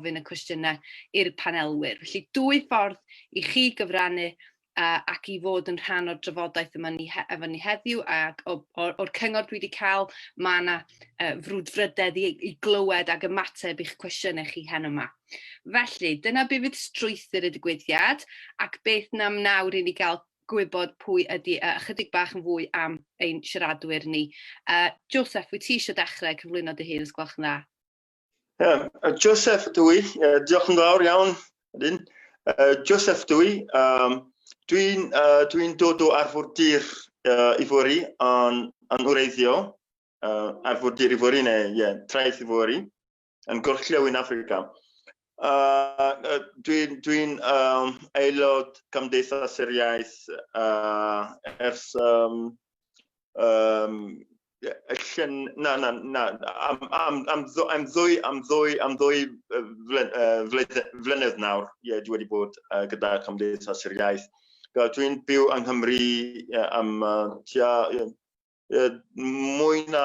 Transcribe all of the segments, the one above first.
gofyn y cwestiynau i'r panelwyr. Felly, dwy ffordd i chi gyfrannu ac i fod yn rhan o'r drafodaeth yma ni, efo ni heddiw, ac o'r cyngor dwi wedi cael, mae yna uh, frwdfrydedd i, i glywed ac ymateb i'ch cwestiynau chi hen yma. Felly, dyna be fydd strwythyr y digwyddiad, ac beth nam nawr i ni gael gwybod pwy ydy uh, ychydig bach yn fwy am ein siaradwyr ni. Uh, Joseph, wyt ti eisiau dechrau cyflwyno dy hun, os gwelwch yn dda? Um, Joseph Dwy, uh, diolch yn fawr iawn. Ydyn. Uh, Joseph Dwy, um, dwi'n uh, dwi dod o arfordir uh, Ifori yn, yn wreiddio, uh, arfordir Ifori neu yeah, traeth Ifori, yn gorllewin Africa. Uh, dwi'n dwi um, aelod Cymdeithas yr Iaith uh, ers um, um, llyn, na, na, na, am, am, am, am ddwy, am ddwy, am ddwy flynedd nawr, ie, yeah, dwi wedi bod uh, gyda Cymdeithas yr Iaith. Dwi'n byw yng Nghymru yeah, am uh, tua, yeah, yeah, mwy na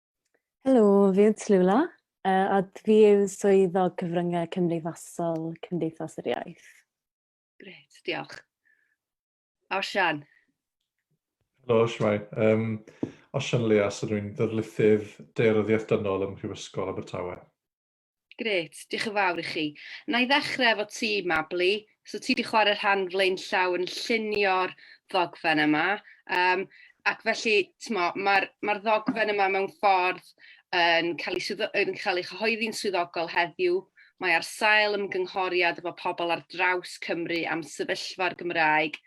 Helo, fi yw Tlula, uh, a fi yw swyddog cyfryngau cymdeithasol Cymdeithas yr Iaith. Gret, diolch. Osian. Helo, Siwai. Um, Osian Leas, ydw i'n ddyrlithydd deiryddiaeth dynol ym Mhrifysgol Abertawe. Grêt, diolch yn fawr i chi. Na i ddechrau efo ti, Mabli. So ti wedi chwarae rhan flaenllaw yn llunio'r ddogfen yma, um, ac felly mae'r ma ddogfen yma mewn ffordd yn cael ei, yn cael ei chyhoeddi'n swyddogol heddiw. Mae ar sail ymgynghoriad efo pobl ar draws Cymru am sefyllfa'r Gymraeg,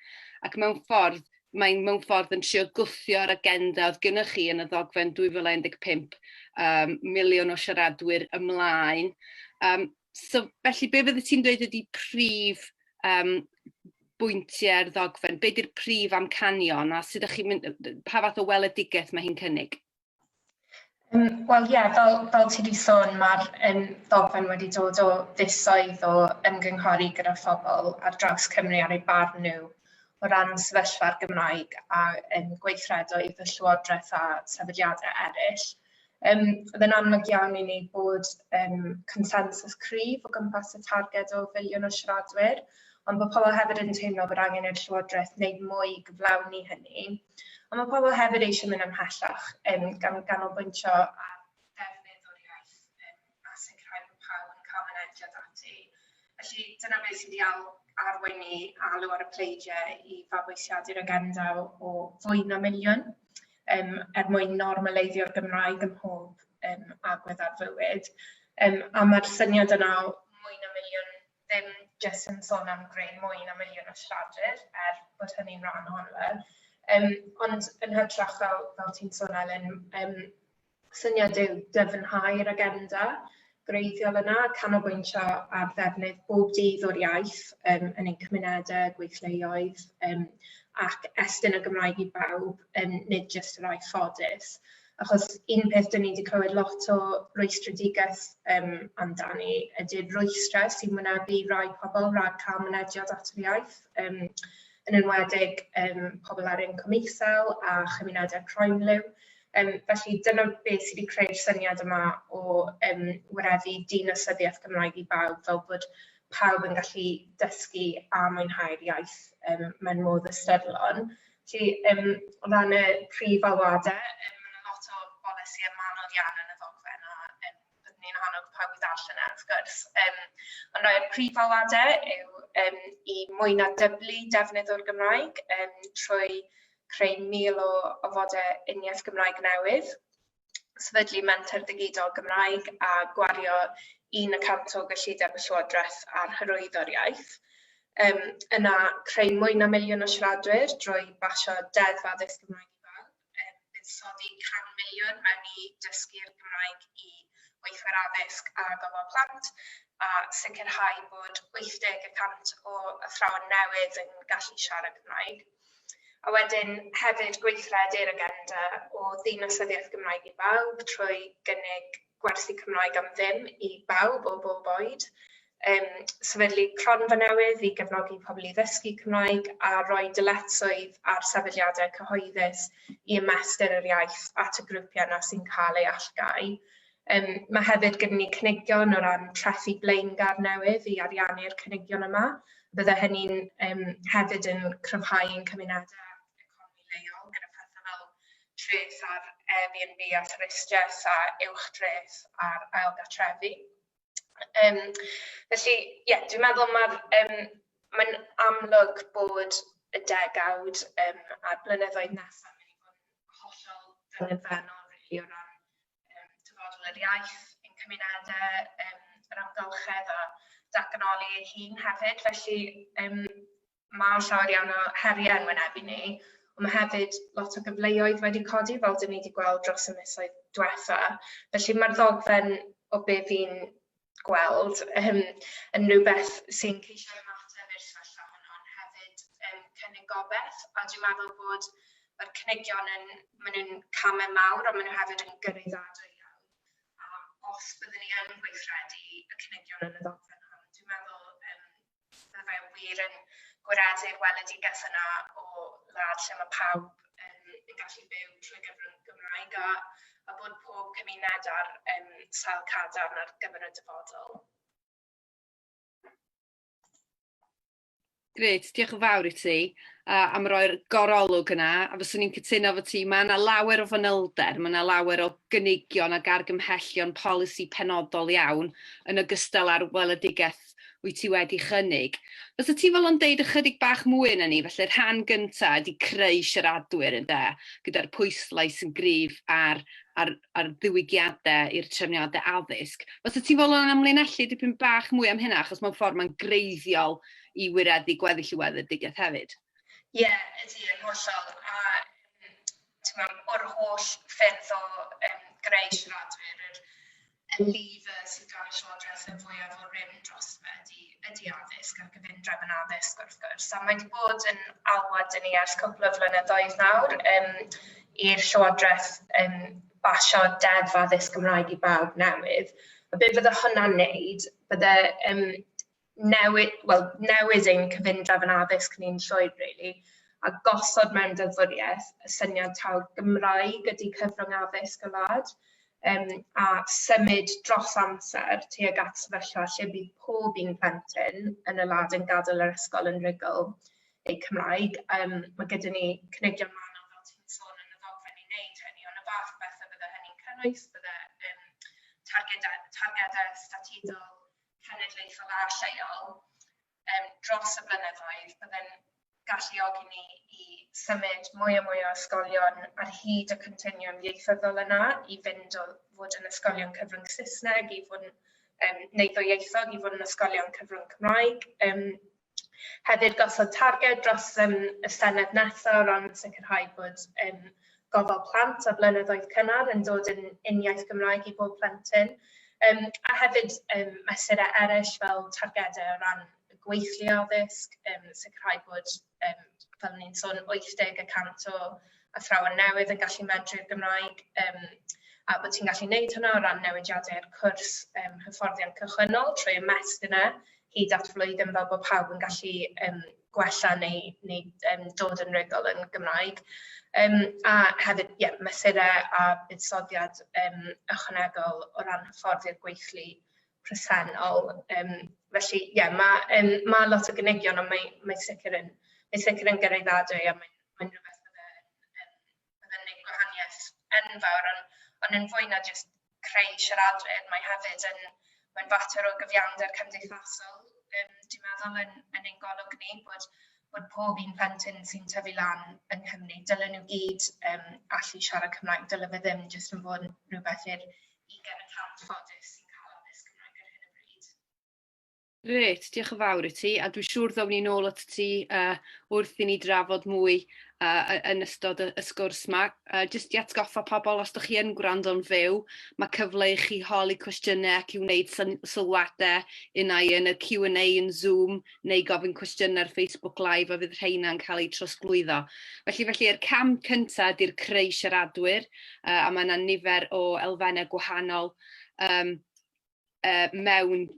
ac mewn ffordd Mae'n mewn ffordd yn trio gwthio'r agenda oedd gynnwch chi yn y ddogfen 2015, um, miliwn o siaradwyr ymlaen. Um, so, felly, be fyddi ti'n dweud ydy prif um, bwyntiau'r ddogfen? Be di'r prif amcanion a sut ydych chi'n mynd, pa fath o weledigaeth mae hi'n cynnig? Wel ie, fel, fel ti wedi sôn, mae'r um, ddogfen wedi dod o fisoedd o ymgynghori gyda phobl ar draws Cymru ar ei barn nhw o ran sefyllfa'r Gymraeg a um, gweithredoedd y Llywodraeth a sefydliadau eraill. Um, oedd yn amlwg iawn i ni bod um, consensus cryf o gwmpas y targed o filiwn o siaradwyr, Ond mae pobl hefyd yn teimlo bod angen i'r Llywodraeth wneud mwy i gyflawni hynny. Ond mae pobl hefyd eisiau mynd ymhellach, um, gan ganolbwyntio ar Felly dyna beth sydd wedi al- arwain ni alw ar y pleidiau i fabwysiadu'r agenda o fwy na miliwn um, er mwyn normaleiddio'r Gymraeg ym mhob um, agwedd ar fywyd. Um, a mae'r syniad yna o mwy na miliwn ddim jyst yn sôn am greu mwy na miliwn o siaradwyr, er bod hynny'n rhan ohono fe, yym ond yn hytrach fel fel ti'n sôn Elin yym syniad yw dyfnhau'r agenda gwreiddiol yna, canolbwyntio ar ddefnydd bob dydd o'r iaith yym yn ein cymunedau, gweithleoedd yym ac estyn y Gymraeg i bawb, yym nid jyst y rhai ffodus. Achos un peth dyn ni wedi clywed lot o rwystredigaeth um, amdani ydy'r rwystrau sy'n wynebu rai pobl rhag cael mynediad at yr iaith, um, yn enwedig um, pobl ar incwm isel a chymunedau croenliw. Um, felly dyna beth sydd wedi creu'r syniad yma o um, wyreddu dinasyddiaeth Gymraeg i bawb fel bod pawb yn gallu dysgu a mwynhau'r iaith um, mewn modd ystyrlon. Felly, um, o ran y prif alwadau, um, mae yna lot o bolisi a manod iawn yn y ddogfen a um, byddwn ni'n annog pawb i ddall yna, wrth gwrs. Um, ond rhai'r prif alwadau yw um, i mwy na dyblu defnydd o'r Gymraeg um, trwy creu mil o ofodau uniaith Gymraeg newydd, sefydlu menter digidol Gymraeg a gwario un y cant o gyllideb y Llywodraeth ar hyrwyddo'r iaith. Um, yna, creu mwy na miliwn o siaradwyr drwy basio deddf addysg Gymraeg i bawb. Um, buddsoddi 100 miliwn mewn i dysgu'r Gymraeg i weithwyr addysg a gofal plant a sicrhau bod 80 y cant o athrawon newydd yn gallu siarad Cymraeg. A wedyn hefyd gweithredu'r agenda o ddinasyddiaeth Gymraeg i bawb trwy gynnig gwersi Cymraeg am ddim i bawb o bob oed, yym sefydlu cronfa newydd i gefnogi pobl i ddysgu Cymraeg a rhoi dyletswydd ar sefydliadau cyhoeddus i ymestyn yr iaith at y grwpiau yna sy'n cael ei allgáu. Yym ma' hefyd gyda ni cynigion o ran trethi blaengar newydd i ariannu'r cynigion yma. Bydde hynny'n yym hefyd yn cryfhau ein cymunedau a'n economi leol gyda phethe fel treth ar Airbnb a thwristiaeth a uwch dreth ar ailgartrefi. Yym felly ie dwi'n meddwl ma'r yym mae'n amlwg bod y degawd yym a'r blynyddoedd nesaf yn mynd i fod yn hollol ddilyfennol rili o ran yym Dyfodol yr Iaith ein cymunedau, yym yr amgylchedd a datganoli ei hun hefyd. Felly yym ma' llawer iawn o heriau yn wynebu ni, ond ma' hefyd lot o gyfleoedd wedi codi fel 'dyn ni 'di gweld dros y misoedd dwetha. Felly ma'r ddogfen o be' fi'n gweld yym yn rhywbeth sy'n ceisio ymateb i'r sefyllfa hwn ond hefyd yn cynnig gobaith a dwi'n meddwl bod yr cynigion yn ma' nw'n came mawr ond ma' nw hefyd yn gyraeddadwy iawn a os byddwn ni yn gweithredu y cynigion yn y ddogfen hwn dwi'n meddwl yym Bydde fe wir yn gwaredu'r weledigaeth yna o wlad lle mae pawb yn gallu byw trwy gyfrwng Gymraeg a a bod pob cymuned ar yym sail cadarn ar gyfer y dyfodol. Grêt, diolch yn fawr i ti uh, am roi'r gorolwg yna, a fyswn i'n cytuno fod ti, mae yna lawer o fanylder, mae yna lawer o gynigion ac argymhellion polisi penodol iawn, yn ogystal â'r weledigaeth What wyt ti wedi chynnig? Fysa ti fodlon deud ychydig bach mwy yna ni? Felly'r rhan gynta ydi creu siaradwyr ynde? Gyda'r pwyslais yn gryf ar ar ar ddiwygiade i'r trefniade addysg. Fysa ti'n fodlon amlinellu dipyn bach mwy am hynna achos mewn ffordd mae'n greiddiol i wireddu gweddill y weledigaeth hefyd. Ie, yeah, ydy, yn hollol. A ti'n o'r holl ffyrdd o um, greu siaradwyr, yr Eliffa sy'n cael y llywodraeth yn fwyaf o rym drosto fe ydy ydy addysg a'r gyfundrefn yn addysg wrth gwrs. A mae wedi bod yn alwad i ni ers cwpl o flynyddoedd nawr um, i'r llywodraeth um, basio deddf addysg Gymraeg i bawb newydd. A beth fydde hwnna'n neud? Bydde um, newid, wel, newid ein cyfundrefn yn addysg ni'n llwyr rili, a gosod mewn deddfwriaeth y syniad taw Gymraeg ydy cyfrwng addysg y wlad, um, a symud dros amser tuag at sefyllfa lle bydd pob un plentyn yn y wlad yn gadael yr ysgol yn rhugl eu Cymraeg. Um, mae gyda ni cynigion manwl fel ti'n sôn yn y ddogfen i wneud hynny, ond y fath o bethau bydde hynny'n cynnwys, bydde um, targedau, targedau statudol, cenedlaethol a lleol dros y blynyddoedd, bydd yn galluogi ni i symud mwy a mwy o ysgolion ar hyd y continwwm ieithyddol yna i fynd o fod yn ysgolion cyfrwng Saesneg i fod yn... neu ddwyieithog i fod yn ysgolion cyfrwng Cymraeg. Hefyd gosod targed dros yym y Senedd nesa' o ran sicrhau bod yym gofal plant a blynyddoedd cynnar yn dod yn uniaith Gymraeg i bob plentyn yym a hefyd yym mesurau eraill fel targedau o ran y gweithlu addysg yym sicrhau bod yym fel o'n i'n sôn 80 y cant o athrawon newydd yn gallu medru'r Gymraeg yym a bod ti'n gallu neud hwnna o ran newidiadau'r cwrs yym hyfforddiant cychwynnol trwy ymestyn e hyd at flwyddyn fel bod pawb yn gallu um, gwella neu, neu um, dod yn rygol yn Gymraeg. Um, a hefyd, ie, yeah, mesurau a buddsoddiad um, ychwanegol o ran hyfforddi i'r gweithlu presennol. Um, felly, ie, yeah, mae um, ma lot o gynigion, ond mae, mae sicr yn, mae sicr yn gyraeddadwy a mae'n mae rhywbeth bydd yn neud gwahaniaeth enfawr on- ond yn fwy na jyst creu siaradwyr mae hefyd yn mae'n fater o gyfiawnder cymdeithasol yym dwi'n meddwl yn yn ein golwg ni bod bod pob un plentyn sy'n tyfu lan yng Nghymru dylen nhw gyd yym allu siarad Cymraeg dyle fe ddim jyst yn bod yn rhywbeth i'r ugain y cant ffodus sy'n cael addysg Cymraeg ar hyn o bryd. Grêt, diolch yn fawr i ti, a dwi'n siŵr ddown ni nôl at ti uh, wrth i ni drafod mwy uh, yn ystod y, y sgwrs yma. Uh, just i atgoffa pobl, os ydych chi yn gwrando'n fyw, mae cyfle i chi holi cwestiynau ac i wneud sylwadau unau yn y Q&A yn Zoom neu gofyn cwestiynau ar Facebook Live a fydd rheina'n cael eu trosglwyddo. Felly, felly yr cam cyntaf ydy'r creu siaradwyr uh, a mae yna nifer o elfennau gwahanol um, uh, mewn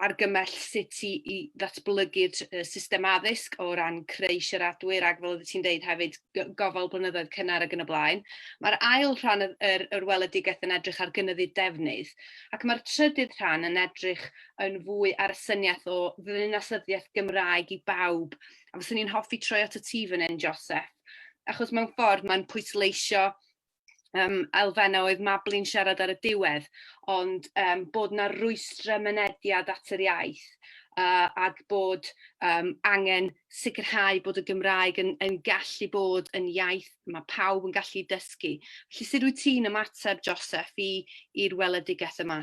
argymell sut i, i ddatblygu'r uh, system addysg o ran creu siaradwyr ac fel oeddet ti'n deud hefyd gofal blynyddoedd cynnar ac yn y blaen. Mae'r ail rhan yr, yr, yr weledigaeth yn edrych ar gynyddu defnydd ac mae'r trydydd rhan yn edrych yn fwy ar y syniaeth o ddynasyddiaeth Gymraeg i bawb. A fyswn i'n hoffi troi at y ti fan hyn, Joseph, achos mewn ffordd mae'n pwysleisio um, elfennau oedd Mably'n siarad ar y diwedd, ond um, bod yna rwystrau mynediad at yr iaith uh, ac bod um, angen sicrhau bod y Gymraeg yn, yn gallu bod yn iaith mae pawb yn gallu dysgu. Felly sut wyt ti'n ymateb, Joseph, i'r weledigaeth yma?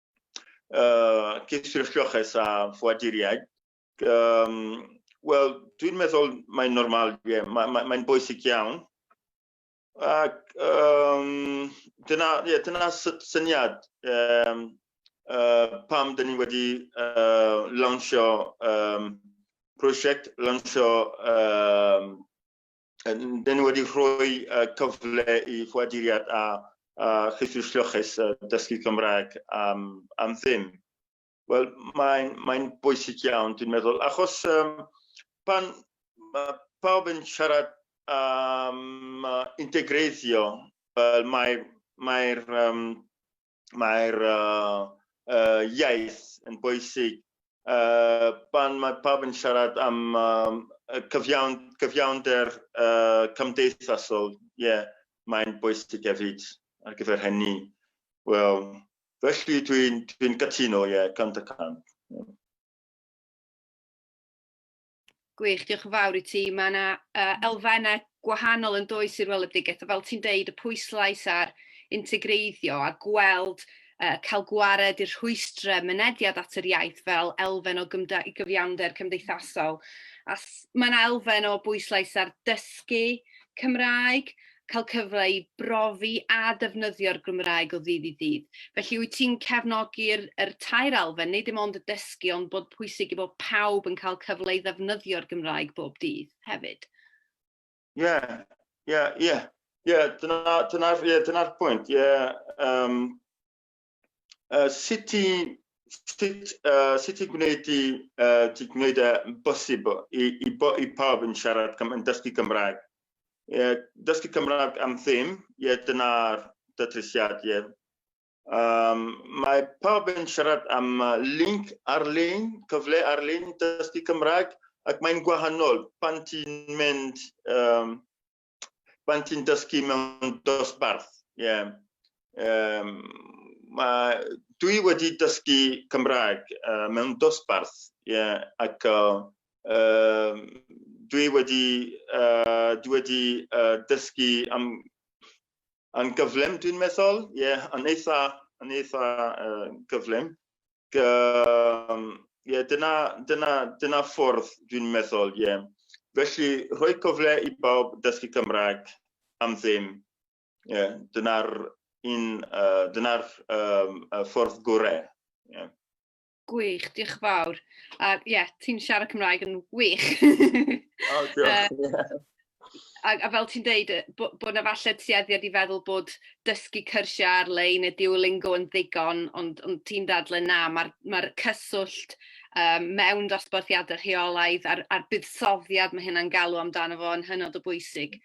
uh, cysylltioches a ffoaduriaid, um, wel, dwi'n meddwl mae'n normal, yeah, mae'n mae, mae bwysig iawn. Ac um, dyna, yeah, dyna syniad um, uh, pam dyn ni wedi uh, lansio um, prosiect, lansio um, Dyn ni wedi rhoi cyfle i ffoaduriad a, a chyffur lloches dysgu Cymraeg am, am ddim. Wel, mae'n mae bwysig iawn, dwi'n meddwl, achos um, pan mae pawb yn siarad am um, integreiddio, wel, mae'r mae um, mae'r uh, uh, iaith yn bwysig. Uh, pan mae pawb yn siarad am um, cyfiawn, cyfiawnder uh, cymdeithasol, ie, yeah, mae'n bwysig hefyd ar gyfer hynny. Wel, felly dwi'n dwi, dwi cytuno, ie, yeah, cant y cant. Yeah. Gwych, diolch yn fawr i ti. Mae yna uh, elfennau gwahanol yn does i'r weledigaeth, fel ti'n deud, y pwyslais ar integreiddio a gweld uh, cael gwared i'r rhwystrau mynediad at yr iaith fel elfen o gyfiawnder cymdeithasol. A mae yna elfen o bwyslais ar dysgu Cymraeg cael cyfle i brofi a defnyddio'r Gymraeg o ddydd i ddydd. Felly wyt ti'n cefnogi'r er tair alfen, neu dim ond y dysgu, ond bod pwysig i bod pawb yn cael cyfle i ddefnyddio'r Gymraeg bob dydd hefyd? Ie, yeah, ie, yeah, ie. Yeah. Ie, yeah, dyna'r dyna, yeah, dyna pwynt. Ie, yeah, um, uh, sut i sut, uh, sut i gwneud i, uh, i gwneud y e bosibl i, i, bo, i pawb yn siarad yn dysgu Cymraeg. Ie, dysgu Cymraeg am ddim, ie, dyna'r datrysiad, ie. Um, mae pawb yn siarad am link ar-lein, cyfle ar-lein i dysgu Cymraeg, ac mae'n gwahanol pan ti'n mynd um, pan ti'n dysgu mewn dosbarth. Yeah. Um, ma, dwi wedi dysgu Cymraeg uh, mewn dosbarth yeah, ac uh, uh, dwi wedi, uh, dwi wedi uh, dysgu am, am gyflym dwi'n meddwl, yeah, yn eitha, yn eitha uh, gyflym. um, yeah, dyna, dyna, dyna ffordd dwi'n meddwl, ie. Yeah. Felly, rhoi cyfle i bawb dysgu Cymraeg am ddim. Yeah, dyna'r un, uh, dyna'r um, ffordd gorau. Yeah. Gwych, diolch yn fawr. A ie, yeah, ti'n siarad Cymraeg yn wych. oh, diolch. uh, a, a fel ti'n deud, bod bo yna falle tueddiad i feddwl bod dysgu cyrsiau ar-lein neu Duolingo yn ddigon, ond, ond ti'n dadle na, mae'r ma cyswllt um, mewn dosbarthiadau rheolaidd a'r, ar buddsoddiad mae hynna'n galw amdano fo yn hynod o bwysig.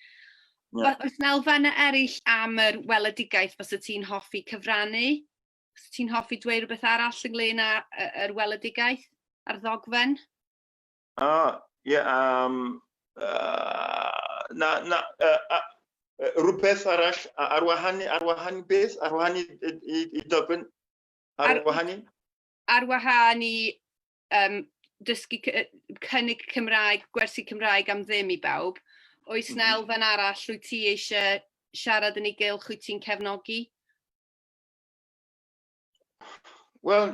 Yeah. Oes na elfennau eraill am yr weledigaeth fos y ti'n hoffi cyfrannu? Os ti'n hoffi dweud rhywbeth arall ynglyn â'r weledigaeth a'r ddogfen? O, ie, um, uh, na, na, uh, uh, rhywbeth arall, ar wahan, ar wahan beth, ar wahan i, i, i dogfen, ar, ar wahan i? Ar wahan i um, dysgu cynnig Cymraeg, gwersi Cymraeg am ddim i bawb. Oes na mhm. elfen arall wyt ti eisiau siarad yn ei gylch, wyt ti'n cefnogi? Wel,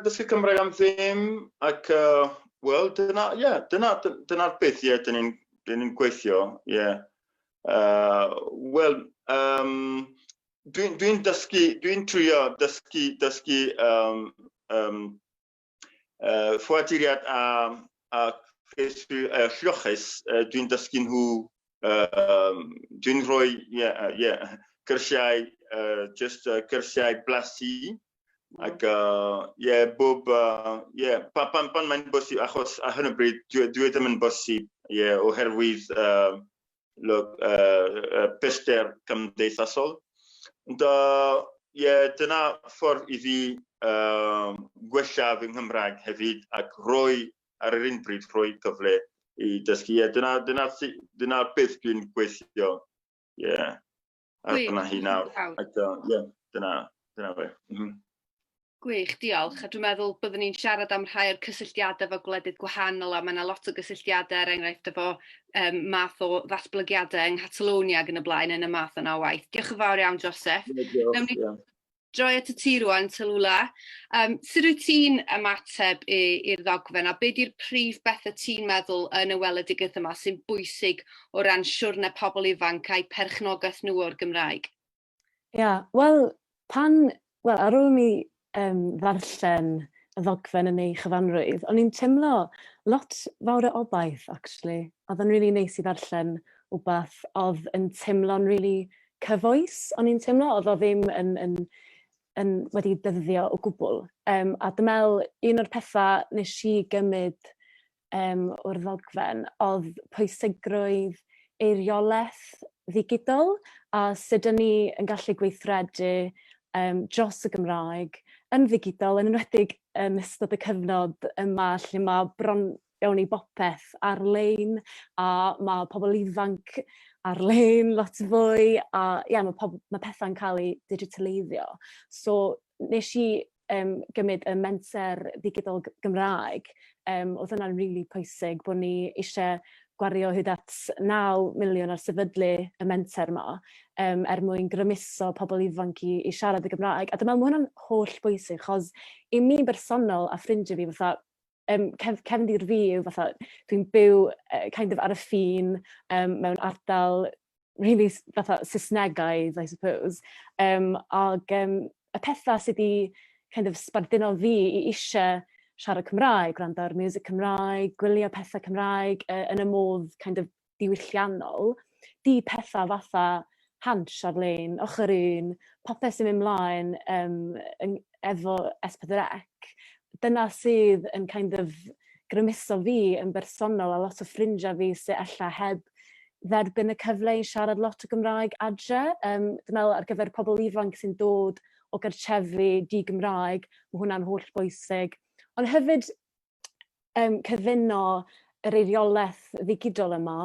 dysgu Cymraeg am ddim, ac uh, wel, dyna, ie, yeah, dyna, dyna'r beth, ie, yeah, dyn ni'n dyn ni gweithio, ie. Yeah. Uh, wel, um, dwi'n dwi dysgu, dwi'n trio dysgu, dysgu um, um, uh, ffoaduriad a, a ceisio uh, lloches, uh, dwi'n dysgu nhw, uh, dwi'n rhoi, ie, yeah, uh, yeah, cyrsiau, uh, just uh, cyrsiau blasu, mm. ac, ie, uh, yeah, bob, ie, uh, yeah, pan, pan, pan mae'n bosib, achos ar hyn o bryd, dwi, dwi ddim yn bosib, ie, yeah, oherwydd, uh, lwg, uh, pellter cymdeithasol. Ond uh, yeah, dyna ffordd i fi uh, gwella fy Nghymraeg hefyd ac roi ar yr un bryd rhoi cyfle i dysgu. Yeah, dyna, dyna, dyna beth dwi'n gweithio. Yeah. A dyna hi nawr. Dyna, dyna fe. Mm -hmm. Gwych, diolch. A dwi'n meddwl byddwn ni'n siarad am rhai o'r cysylltiadau efo gwledydd gwahanol a mae yna lot o gysylltiadau er enghraifft efo um, math o ddatblygiadau yng Nghatalonia ac yn y blaen yn y math yna o waith. Diolch yn fawr iawn, Joseph. Yeah, diolch, yeah. droi at y ti rwan, Tallulah. Um, sut wyt ti'n ymateb i'r ddogfen a beth yw'r prif bethau ti'n meddwl yn y weledigaeth yma sy'n bwysig o ran siwrne pobl ifanc a'i perchnogaeth nhw o'r Gymraeg? Ia, yeah, wel, pan, wel, ar ôl mi um, ddarllen y ddogfen yn ei chyfanrwydd, o'n i'n teimlo lot fawr o obaith, actually. Oedd yn rili really neis i ddarllen wbath oedd yn teimlo'n rili really cyfoes o'n i'n teimlo o'dd o ddim yn yn yn wedi dyddio o gwbwl yym a dwi me'wl un o'r petha nesh i gymyd yym o'r ddogfen o'dd pwysigrwydd eirioleth ddigidol a sud 'dyn ni yn gallu gweithredu yym dros y Gymraeg yn ddigidol yn enwedig yn ystod y cyfnod yma lle ma' bron Gawn ni bopeth ar-lein a ma' pobol ifanc ar-lein lot fwy a ie ma' pob- ma' petha'n ca'l 'u digitaleiddio so nesh i yym gymyd y menter ddigidol Gy- Gymraeg yym o'dd hwnna'n rili pwysig bo' ni ishe gwario hyd at naw miliwn ar sefydlu y menter 'ma yym er mwyn grymuso pobol ifanc i i siarad y Gymraeg a dwi me'wl ma' hwnna'n hollbwysig 'chos i mi yn bersonol a ffrindie fi fatha um, cef, cefn i'r fi yw fatha, dwi'n byw uh, kind of ar y ffin um, mewn ardal really fatha Saesnegaidd, I suppose. Um, ac um, y pethau sydd wedi kind of sbardino fi i eisiau siarad Cymraeg, gwrando ar music Cymraeg, gwylio pethau Cymraeg uh, yn y modd kind of diwylliannol, di petha fatha Hansh ar-lein, Ochr Un, popeth sy'n mynd mlaen yym yn efo S4C, dyna sydd yn kind of grymuso fi yn bersonol a lot o ffrindia fi sy ella heb dderbyn y cyfle i siarad lot o Gymraeg adre yym dwi me'wl ar gyfer pobol ifanc sy'n dod o gartrefi di-Gymraeg ma' hwnna'n holl bwysig ond hefyd um, cyfuno yr eiriolaeth ddigidol yma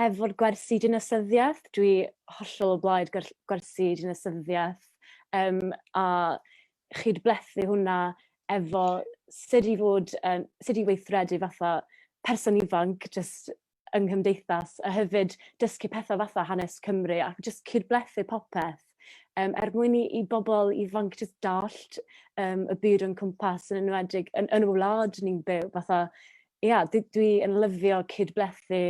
efo'r gwersi dinasyddiaeth. Dwi hollol o blaid gwersi dinasyddiaeth um, a chyd blethu hwnna efo sut i fod, um, sut i weithredu fatha person ifanc, just yng nghymdeithas a hefyd dysgu petha fatha hanes Cymru ac jyst cyd-blethu popeth yym er mwyn i i bobol ifanc jyst dallt yym y byd o'n cwmpas yn enwedig yn yn y wlad ni'n byw fatha ia d- dwi yn lyfio cyd-blethu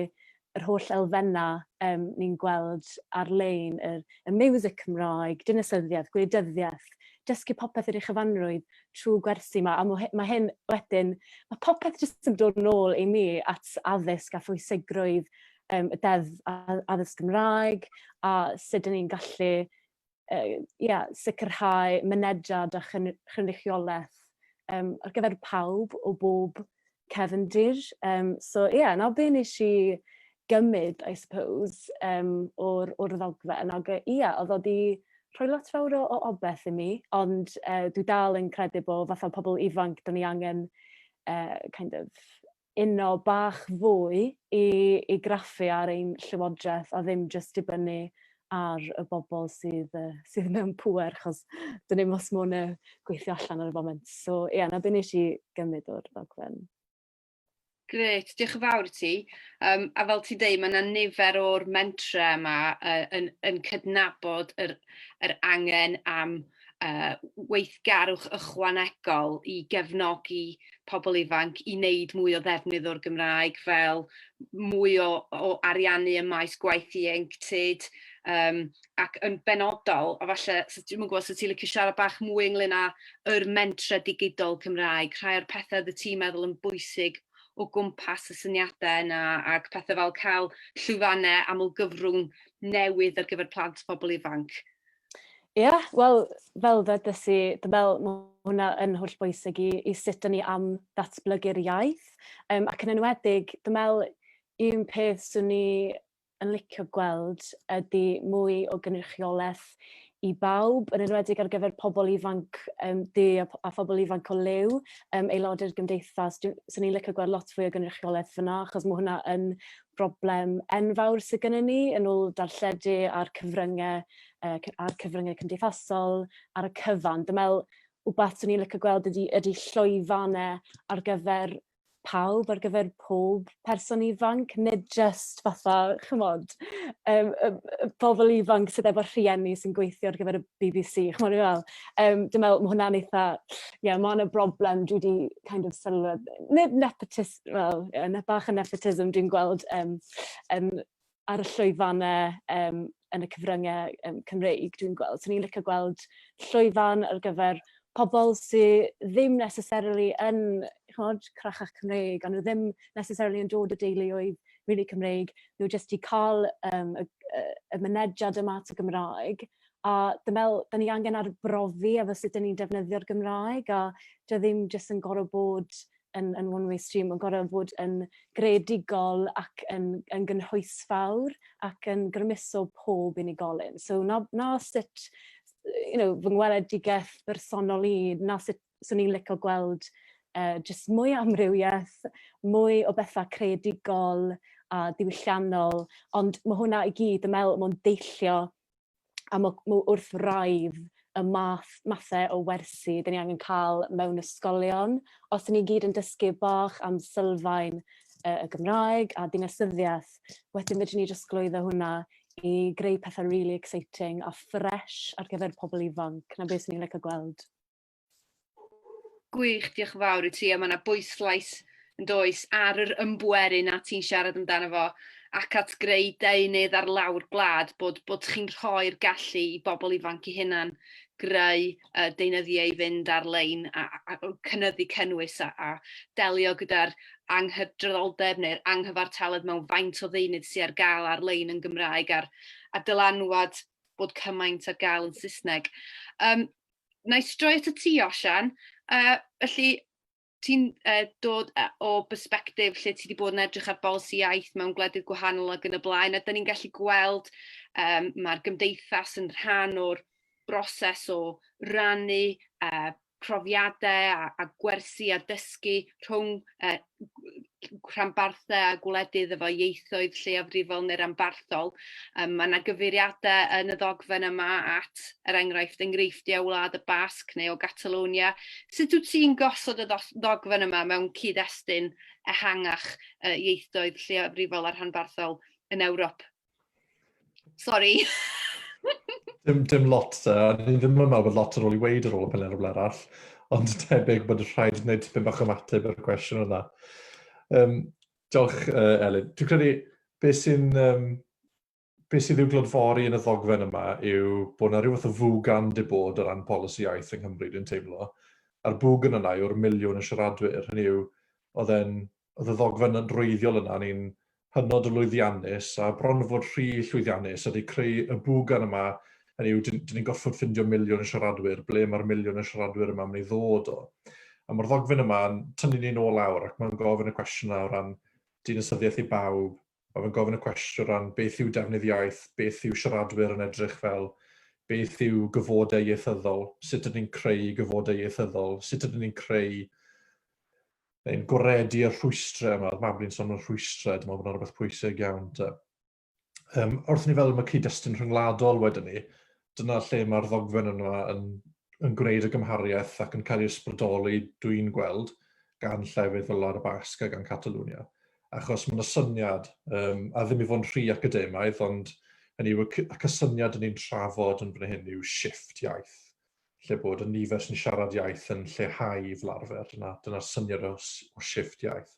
yr holl elfenna yym ni'n gweld ar-lein yr y miwsig Cymraeg, dinasyddiaeth, gwleidyddiaeth, dysgu popeth ar ei chyfanrwydd trwy gwersi 'ma a ma' ma' hyn wedyn ma' popeth jyst yn dod nôl i ni at addysg a phwysigrwydd yym y deddf a- a- addysg Gymraeg a sud 'yn ni'n gallu yy ia sicirhau mynediad a chyn- chynrychioleth yym ar gyfer pawb o bob cefndir. Um, so ie, yeah, na be nes i gymryd, I suppose, um, o'r, or ddogfen. Ac ie, yeah, oedd o di rhoi lot fawr o, o obeth i mi, ond uh, dwi dal yn credu bod fatha pobl ifanc, da ni angen uh, kind of uno bach fwy i, i graffu ar ein llywodraeth a ddim just dibynnu ar y bobl sydd yy sydd mewn pŵer achos dwn i'm os ma' wnna gweithio allan ar y foment. So ie 'na be' nesh i gymryd o'r ddogfen. Grêt, diolch yn fawr i ti. Um, a fel ti'n dweud, mae yna nifer o'r mentre yma uh, yn, yn cydnabod yr, yr angen am weithgarwch ychwanegol i gefnogi pobl ifanc i wneud mwy o ddefnydd o'r Gymraeg, fel mwy o ariannu ym maes gwaith ieuenctid, ac yn benodol, a falle, dwi'm yn gwybod os wyt ti'n licio siarad bach mwy ynglyn â yr mentrau digidol Cymraeg, rhai o'r pethau oeddet ti'n meddwl yn bwysig o gwmpas y syniadau yna, ac pethau fel cael llwyfannau amlgyfrwng newydd ar gyfer plant a phobl ifanc. Ie, yeah, wel, fel ddedais i, dwi'n meddwl mae hwnna yn holl bwysig i, i sut dyn ni am ddatblygu'r iaith. Um, ac yn enwedig, dwi'n meddwl un peth sy'n ni yn licio gweld ydy mwy o gynrychiolaeth i bawb, yn enwedig ar gyfer pobl ifanc um, di a, a phobl ifanc o lew, um, aelodau'r gymdeithas. Swn i'n licio gweld lot fwy o gynrychiolaeth fyna, achos mae hwnna yn broblem enfawr sy gynnon ni yn ôl darlledu a'r cyfrynge yy cy- a'r cyfrynge cymdeithasol ar y cyfan. Dwi me'wl wbath swn i'n licio gweld ydi ydi llwyfan e ar gyfer pawb ar gyfer pob person ifanc nid jyst fatha ch'mod yym y y pobol ifanc sydd efo rhieni sy'n gweithio ar gyfer y Bee Bee See ch'mod dwi fe'wl? Yym dwi me'wl ma' hwnna'n eitha ie ma' 'na broblem dwi 'di kind of sylwedd- nid nepotism wel, yn bach o nepotism dwi'n gweld um, um, ar y llwyfannau um, yn y cyfryngau um, Cymreig, dwi'n gweld. So ni'n licio gweld llwyfan ar gyfer pobl sydd ddim necessarily yn chymod, crachach Cymreig, ond nhw ddim necessarily yn dod o deuluoedd rili Cymreig, nhw jyst i cael um, y, y, y mynediad yma at y Gymraeg, a dwi'n meddwl, da ni angen arbrofi efo sut da ni'n defnyddio'r Gymraeg, a dwi ddim jyst yn gorau bod yn yn one way stream ma'n gor'o' fod yn greadigol ac yn yn gynhwysfawr ac yn grymuso pob unigolyn so 'na 'na sut you know fy ngweledigaeth bersonol i 'na sut swn i'n lico gweld yy jyst mwy o amrywieth mwy o betha creadigol a diwylliannol ond ma' hwnna i gyd dwi me'wl ma'n deillio a mo, mo wrth raidd y math, mathau o wersi dyn ni angen cael mewn ysgolion. Os dyn ni gyd yn dysgu bach am sylfaen uh, y Gymraeg a dinasyddiaeth, wedyn fydden ni jyst glwyddo hwnna i greu pethau really exciting a fresh ar gyfer pobl ifanc. Na beth sy'n ni'n licio gweld. Gwych, diolch yn fawr i ti, a mae yna bwyslais yn does ar yr ymbweru na ti'n siarad amdano fo ac at greu deunydd ar lawr gwlad bod, bod chi'n rhoi'r gallu i bobl ifanc i hunan greu uh, deunyddiau i fynd ar-lein a, a, a cynnyddu cynnwys a, a delio gyda'r anghydraddoldeb neu'r anghyfartaledd mewn faint o ddeunydd sy'n ar gael ar-lein yn Gymraeg a'r a dylanwad bod cymaint ar gael yn Saesneg. Um, wna i stroi at y ti, Osian. Uh, felly, ti'n uh, dod uh, o bersbectif lle ti wedi bod yn edrych ar bolisi iaith mewn gwledydd gwahanol ac yn y blaen, a dyn ni'n gallu gweld um, mae'r gymdeithas yn rhan o'r broses o rannu uh, profiadau a, a gwersi a dysgu rhwng uh, rhanbarthau a gwledydd efo ieithoedd lleiafrifol neu ranbarthol. Um, mae yna gyfeiriadau yn y ddogfen yma at, er enghraifft, enghreifftiau Wlad y Basg neu o Catalonia. Sut wyt ti'n gosod y ddogfen yma mewn cyd-destun ehangach uh, ieithoedd lleiafrifol a rhanbarthol yn Ewrop? Sorry. dim, dim lot da, ni ddim yn meddwl bod lot ar ôl i weid ar ôl y peler o arall, ond tebyg bod rhaid wneud tipyn bach o mateb ar y cwestiwn yna. Um, diolch, uh, Elin. Dwi'n credu, beth sy'n um, be sydd i'w glodfori yn y ddogfen yma yw bod yna rhywbeth o fwg am di bod o ran polisi iaith yng Nghymru, dwi'n teimlo. A'r bwg yn yna yw'r miliwn y siaradwyr. Hynny yw, oedd e'n oedd y ddogfen wreiddiol yna, ni'n hynod o lwyddiannus a bron fod rhy llwyddiannus ydy creu y bwgan yma, hynny yw, dyn ni'n gorfod ffindio miliwn o siaradwyr, ble mae'r miliwn o siaradwyr yma yn mynd i ddod o? A mae'r ddogfen yma'n tynnu ni'n ôl lawr ac mae'n gofyn y cwestiynau o ran dinasyddiaeth i bawb, Mae fe'n gofyn y cwestiwn o ran beth yw defnydd iaith, beth yw siaradwyr yn edrych fel, beth yw gyfodau ieithyddol, sut ydyn ni'n creu gyfodau ieithyddol, sut ydyn ni'n creu neu'n gwaredu y rhwystrau yma, mae Mabli'n sôn am rhwystrau, dwi'n meddwl bod yna rhywbeth pwysig iawn. Um, wrth ni fel mae cyd-destun rhyngwladol wedyn ni, dyna lle mae'r ddogfen yna yn, yn gwneud y gymhariaeth ac yn cael ei ysbrydoli, dwi'n gweld, gan llefydd fel Lar y Basg a gan Catalwnia. Achos mae yna syniad, um, a ddim i fod yn rhy academaidd, ond hynny yw y cysyniad yn ni'n trafod yn fan hyn yw shift iaith, lle bod y nifer sy'n siarad iaith yn lleihau i flarfer. Dyna, dyna syniad o, o shift iaith.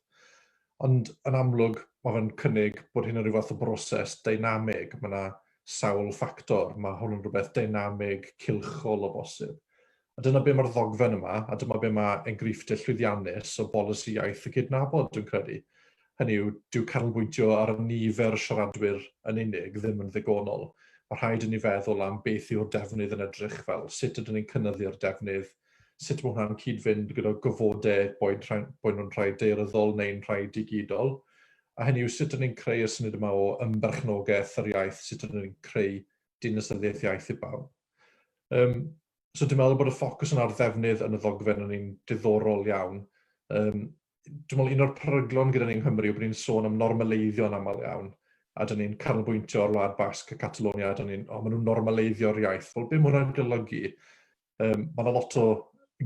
Ond yn amlwg, mae fe'n cynnig bod hyn yn rhyw fath o broses deinamig. Mae yna sawl ffactor. Mae hwn yn rhywbeth deinamig, cylchol o bosib. A dyna be mae'r ddogfen yma, a dyma be mae enghreifftiau llwyddiannus o bolisi iaith y cydnabod, dwi'n credu. Hynny yw, dyw canolbwyntio ar nifer y siaradwyr yn unig ddim yn ddigonol. Mae rhaid inni feddwl am beth yw'r defnydd yn edrych fel, sut ydyn ni'n cynyddu'r defnydd, Sut mae hwnna'n cyd-fynd gyda gofodau boed nhw'n rhai daearyddol neu'n rhai digidol, a hynny yw sut 'dyn ni'n creu y syniad yma o ymberchnogaeth yr iaith, sut 'dyn ni'n creu dinasyddiaeth iaith i bawb. Um, so dwi'n meddwl bod y ffocws yn ar ddefnydd yn y ddogfen yn un diddorol iawn. Um, dwi'n meddwl un o'r peryglon gyda ni yng Nghymru yw bod ni'n sôn am normaleiddio yn aml iawn, a dyn ni'n canolbwyntio ar Wlad Basg a Catalonia, a dyn ni'n, o, maen nhw'n normaleiddio'r iaith. Wel, beth mae hwnna'n golygu? Um, mae yna lot o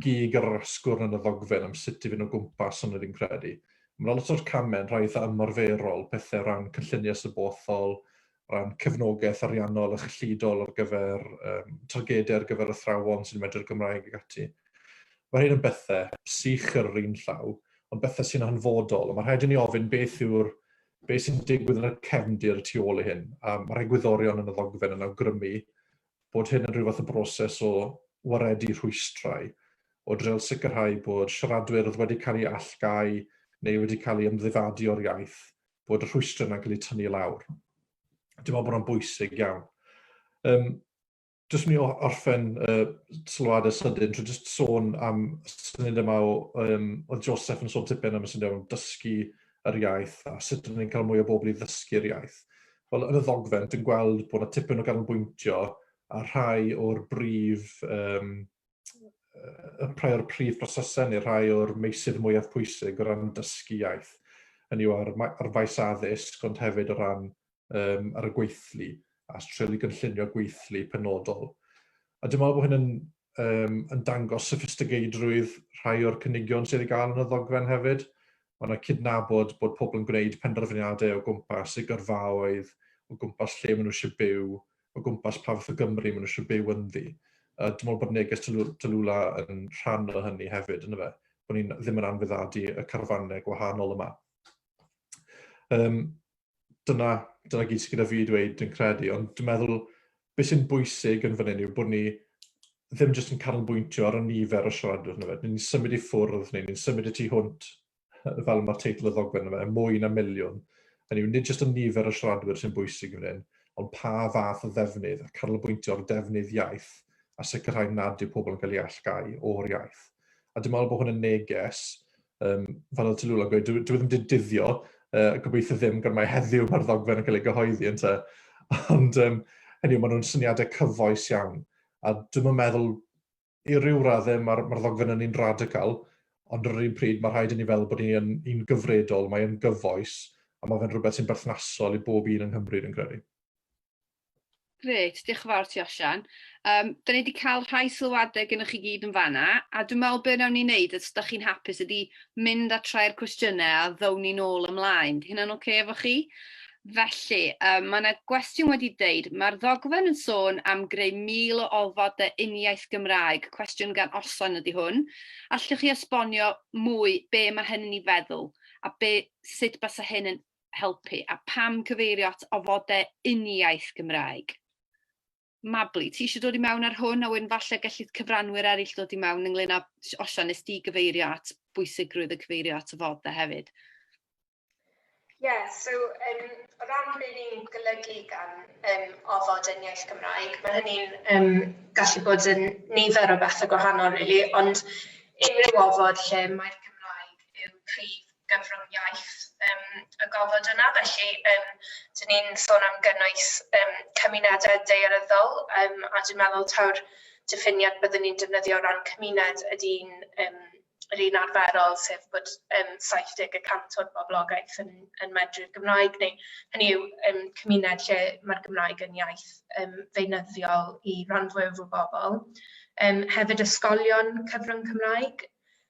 gig ar yr asgwrn yn y ddogfen am sut i fynd o gwmpas yn yr un credu. Mae yna lot o'r camau yn rhai eitha ymarferol, pethau o ran cynlluniau sybothol, ran cefnogaeth ariannol a chyllidol ar gyfer um, targedau ar gyfer athrawon sy'n medru'r Gymraeg ac ati. Mae hyn yn bethau sych ar yr un llaw, ond bethau sy'n hanfodol, ond mae rhaid i ni ofyn beth yw'r beth sy'n digwydd yn y cefndir y tu ôl i hyn, a mae'r egwyddorion yn y ddogfen yn awgrymu bod hyn yn rhyw fath o broses o waredu rhwystrau, o dreial sicrhau bod siaradwyr oedd wedi cael eu allgáu neu wedi cael eu ymddifadu o'r iaith, bod y rhwystrau yna'n cael eu tynnu i lawr. Dwi'n meddwl bod hwnna'n bwysig iawn. Um, Jyst mi orffen uh, sylwadau sydyn, trwy jyst sôn am syniad yma o, um, oedd Joseph yn sôn tipyn am y syniad am dysgu yr iaith a sut rydyn ni'n cael mwy o bobl i ddysgu'r iaith. wel, yn y ddogfen, dwi'n gweld bod yna tipyn o ganolbwyntio ar rhai o'r brif um, y rhai o'r prif brosesau neu rhai o'r meysydd mwyaf pwysig o ran dysgu iaith. Hynny yw ar, ar faes addysg, ond hefyd o ran um, ar y gweithlu a treulu gynllunio gweithlu penodol. A dwi'n meddwl bod hyn yn um, yn dangos sophistigeidrwydd rhai o'r cynigion sydd wedi gael yn y ddogfen hefyd. Mae yna cydnabod bod pobl yn gwneud penderfyniadau o gwmpas eu gyrfaoedd, o gwmpas lle maen nhw eisiau byw, o gwmpas pa fath o Gymru maen nhw eisiau byw ynddi. Uh, dwi'n meddwl bod neges Tylwla yn rhan o hynny hefyd, yn fe, bod ni'n ddim yn anfyddadu y carfannau gwahanol yma. Um, dyna, dyna gyd sydd gyda fi i dweud yn credu, ond dwi'n meddwl beth sy'n bwysig yn fan hyn yw bod ni ddim jyst yn canolbwyntio ar y nifer o siaradwyr yna fe. Ni'n symud i ffwrdd, neu ni'n symud i tu hwnt, fel mae'r teitl y ddogfen yna fe, mwy na miliwn. Hynny yw, nid jyst y nifer o siaradwyr sy'n bwysig yn hyn, ond pa fath o ddefnydd, a canolbwyntio ar ddefnydd iaith, a sicrhau nad yw pobl yn cael ei allgau o'r iaith. A dwi'n meddwl bod hwn yn neges Um, fan oedd Tylula gweud, dwi, dwi ddim wedi dyddio, uh, gobeithio ddim, gan mae heddiw mae'r ddogfen yn cael ei gyhoeddi yn te. Ond um, hynny, maen nhw'n syniadau cyfoes iawn. A dwi'n yn meddwl, i ryw raddau, mae'r ma ddogfen yn un radical, ond ar yr un pryd mae rhaid i ni fel bod ni'n un gyfredol, mae'n gyfoes, a mae fe'n rhywbeth sy'n berthnasol i bob un yng Nghymru, yn credu. Grêt, diolch yn fawr ti Osian. Um, da ni wedi cael rhai sylwadau gennych chi gyd yn fanna, a dwi'n meddwl beth nawn ni wneud, os da chi'n hapus, ydy mynd a trau'r cwestiynau a ddown ni'n ôl ymlaen. Di hynna'n oce okay efo chi? Felly, um, mae yna gwestiwn wedi deud, mae'r ddogfen yn sôn am greu mil o olfodau uniaith Gymraeg, cwestiwn gan Osian ydy hwn. Allwch chi esbonio mwy be mae hynny'n ei feddwl a be, sut basa hyn yn helpu a pam cyfeirio at ofodau uniaith Gymraeg? Mabli, ti eisiau dod i mewn ar hwn a wedyn falle gellid cyfranwyr eraill dod i mewn ynglyn â Osian, nes di gyfeirio at bwysigrwydd y cyfeirio at ofodau hefyd. Ie, yeah, so um, o ran beth ni'n golygu gan um, ofod yn iaith Gymraeg, mae hynny'n um, gallu bod yn nifer o bethau gwahanol, really, ond unrhyw ofod lle mae'r Cymraeg yw prif gyfrwng iaith um, y gofod yna. Felly, um, dyn ni'n sôn am gynnwys um, cymunedau daearyddol, um, a dwi'n meddwl taw'r diffiniad byddwn ni'n defnyddio o ran cymuned ydy'n um, yr un arferol, sef bod um, 70 y cant o'r boblogaeth yn, yn medru'r Gymraeg, neu hynny yw um, cymuned lle mae'r Gymraeg yn iaith um, feunyddiol i ran fwyaf o bobl. Um, hefyd ysgolion cyfrwng Cymraeg,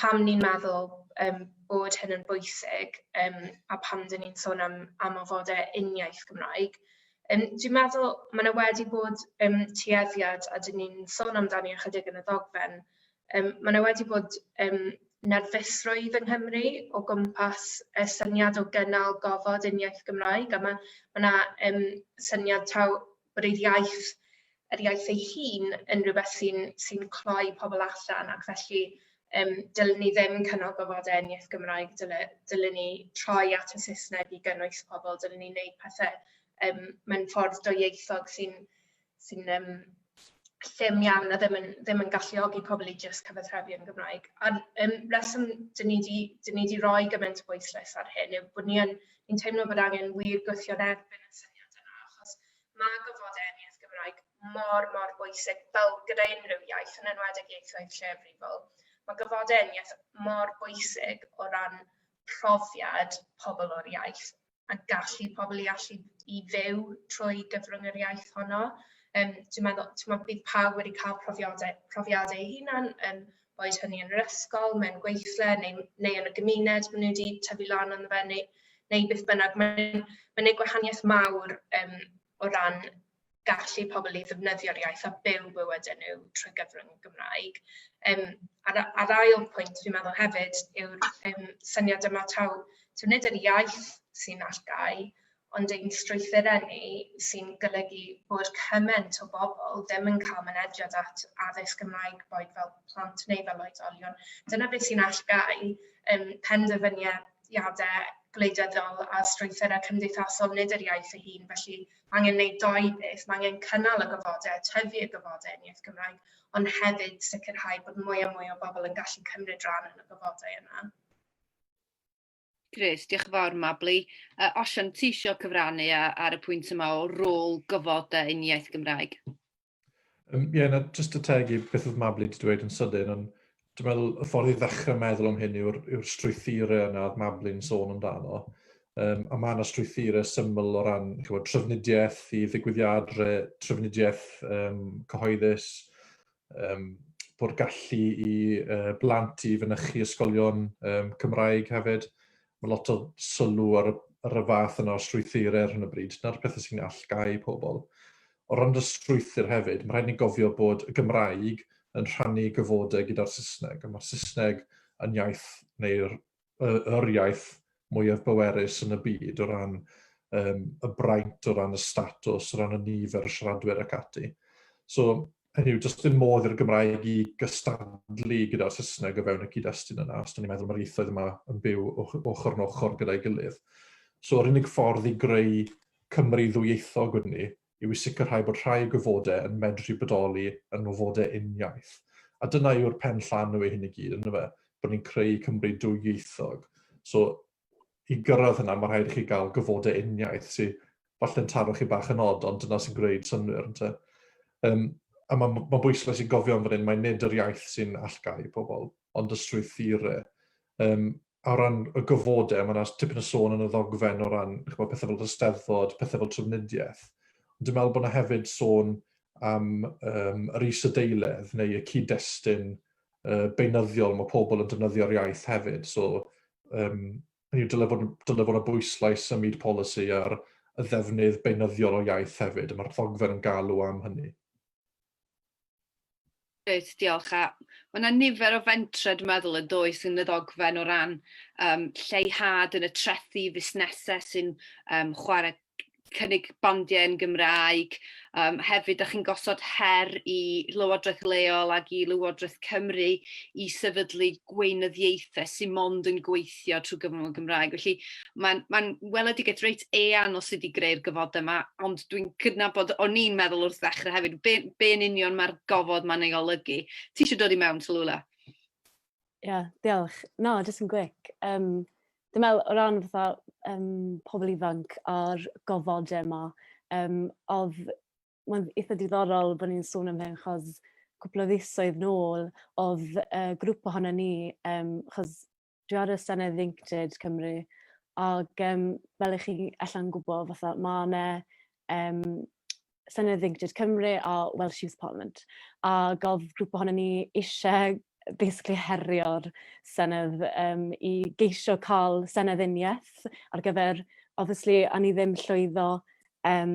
pam ni'n meddwl yym bod hyn yn bwysig yym a pam 'dyn ni'n sôn am am ofode uniaith Gymraeg. Yym dwi'n meddwl ma' 'na wedi bod yym tueddiad a 'dyn ni'n sôn amdani ychydig yn y ddogfen yym ma' 'na wedi bod yym nerfusrwydd yng Nghymru o gwmpas y syniad o gynnal gofod uniaith Gymraeg a ma' ma' 'na yym syniad taw bod ei iaith, yr iaith ei hun, yn rhywbeth sy'n sy cloi pobl allan ac felly um, dylwn ni ddim cynnal gofodau yn iaith Gymraeg, dylwn, dylwn ni troi at y Saesneg i gynnwys pobl, dylwn ni wneud pethau um, mewn ffordd doieithog sy'n sy um, llym iawn a ddim yn, ddim yn galluogi pobl i jyst cyfathrebu yn Gymraeg. A'r um, reswm dyn ni wedi rhoi gymaint o bwyslais ar hyn yw bod ni yn Fi'n teimlo bod angen wir gwthio yn erbyn y syniad yna achos ma' gofod enniaith Gymraeg mor mor bwysig fel gyda unrhyw iaith yn enwedig ieithoedd lleiafrifol. Ma' gofod enniaith mor bwysig o ran profiad pobl o'r iaith a gallu pobl i allu i fyw trwy gyfrwng yr iaith honno. Yym dwi'n meddwl t'mod bydd pawb wedi cael profiadau profiadau eu hunan yn boed hynny yn yr ysgol, mewn gweithle neu, neu yn y gymuned maen nhw wedi tyfu lan yn fe neu, neu beth bynnag. Mae'n mae gwneud gwahaniaeth mawr um, o ran gallu pobl i ddefnyddio'r iaith a byw bywydau nhw trwy gyfrwng y Gymraeg. Um, a'r, ar ail pwynt fi'n meddwl hefyd yw'r um, syniad yma taw, taw nid yr iaith sy'n allgau, ond ein strwythurau ni sy'n golygu bod cymaint o bobl ddim yn cael mynediad at addysg Gymraeg, boed fel plant neu fel oedolion. Dyna beth sy'n allgáu um, penderfyniadau gwleidyddol a strwythurau cymdeithasol, nid yr iaith ei hun. Felly, mae angen gwneud doi beth. Mae angen cynnal y gofodau, tyfu y gofodau yn iaith Gymraeg, ond hefyd sicrhau bod mwy a mwy o bobl yn gallu cymryd rhan yn y gofodau yna. Grêt, diolch yn fawr Mabli. Uh, Osian, ti eisiau cyfrannu ar y pwynt yma o rôl gyfod uh, yn iaith Gymraeg? Um, ie, yeah, na, just y teg i beth oedd Mabli wedi dweud yn sydyn, ond dwi'n meddwl y ffordd i ddechrau meddwl am hyn yw'r yw strwythurau yna oedd Mabli'n sôn amdano. Um, a mae yna strwythurau syml o ran chywod, trafnidiaeth i ddigwyddiadau, trafnidiaeth um, cyhoeddus, um, bod gallu i uh, blant i fynychu ysgolion um, Cymraeg hefyd. Mae lot o sylw ar y, ar y fath yna o strwythurau ar hyn o bryd, na'r pethau sy'n allgau pobl. O ran y strwythur hefyd, mae rhaid ni gofio bod y Gymraeg yn rhannu gyfodau gyda'r Saesneg, a mae'r Saesneg yn iaith neu'r yr iaith mwyaf bwerus yn y byd o ran um, y braint, o ran y statws, o ran y nifer y siaradwyr ac ati. So, hynny yw, does dim modd i'r Gymraeg i gystadlu gyda'r Saesneg o fewn y cyd-destun yna, os da ni'n meddwl mae'r ieithoedd yma yn byw ochr yn ochr gyda'i gilydd. So, yr unig ffordd i greu Cymru ddwyieithog wedyn ni yw i sicrhau bod rhai o gyfodau yn medru bodoli yn ngofodau uniaith. A dyna yw'r pen llanw i hyn i gyd, ynddo fe? Bod ni'n creu Cymru dwyieithog. So, i gyrraedd hynna, mae rhaid i chi gael gyfodau uniaith sy'n falle'n taro chi bach yn od, ond dyna sy'n gwneud synwyr, ynddo um, A mae'n ma bwysles i gofio yn fan hyn, mae nid yr iaith sy'n allgau pobl, ond y strwythurau. Um, o ran y gofodau, mae yna tipyn o sôn yn y ddogfen o ran chybod, pethau fel hysteddfod, pethau fel trafnidiaeth. Ond dwi'n meddwl bod yna hefyd sôn am um, yr isadeiledd neu y cyd-destun uh, beunyddiol mae pobl yn defnyddio'r iaith hefyd. So, um, hynny dyle fod, dyle fod y bwyslais ym myd polisi ar y ddefnydd beunyddiol o iaith hefyd, a mae'r ddogfen yn galw am hynny. Reit, diolch. A mae yna nifer o fentrau, dwi'n meddwl, yn does yn y ddogfen o ran um, lleihad yn y trethu fusnesau sy'n um, chwarae cynnig bandiau yn Gymraeg. Um, hefyd, da chi'n gosod her i Lywodraeth Leol ac i Lywodraeth Cymru i sefydlu gweinyddiaethau sy'n mond yn gweithio gweithio trwy gyfrwng y Gymraeg. Felly mae'n ma weledigaeth reit eang o sut i greu'r gofod yma, ond dwi'n cydnabod, o'n i'n meddwl wrth ddechrau hefyd, be, be yn union mae'r gofod mae'n ei olygu. Ti eisiau dod i mewn, Talula? Ie, yeah, diolch. No, jyst yn gwic. Um, dwi'n meddwl, o ran fatha um, pobl ifanc a'r gofodau yma, um, oedd mae'n eitha diddorol bo' ni'n sôn am hyn 'chos cwpwl o fisoedd nôl odd yy grŵp ohonon ni yym 'chos dwi ar y senedd ieuenctid Cymru ag yym fel 'ych chi ella'n gwbo fatha ma' 'na yym senedd ieuenctid Cymru a Welsh Youth Parliament ag odd grŵp ohonon ni isie yy basically herio'r senedd yym i geisio ca'l senedd uniath ar gyfer obviously o'n i ddim llwyddo yym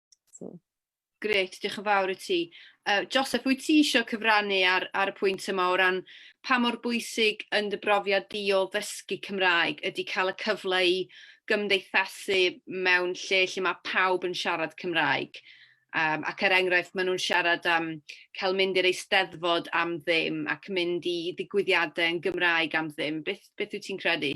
So. Gret, diolch yn fawr i ti. Uh, Joseph, wyt ti eisiau cyfrannu ar, ar y pwynt yma o ran pa mor bwysig yn dy brofiad di o ddysgu Cymraeg ydy cael y cyfle i gymdeithasu mewn lle lle mae pawb yn siarad Cymraeg? Um, ac er enghraifft, maen nhw'n siarad am cael mynd i'r eisteddfod am ddim ac mynd i ddigwyddiadau yn Gymraeg am ddim. Beth, beth wyt ti'n credu?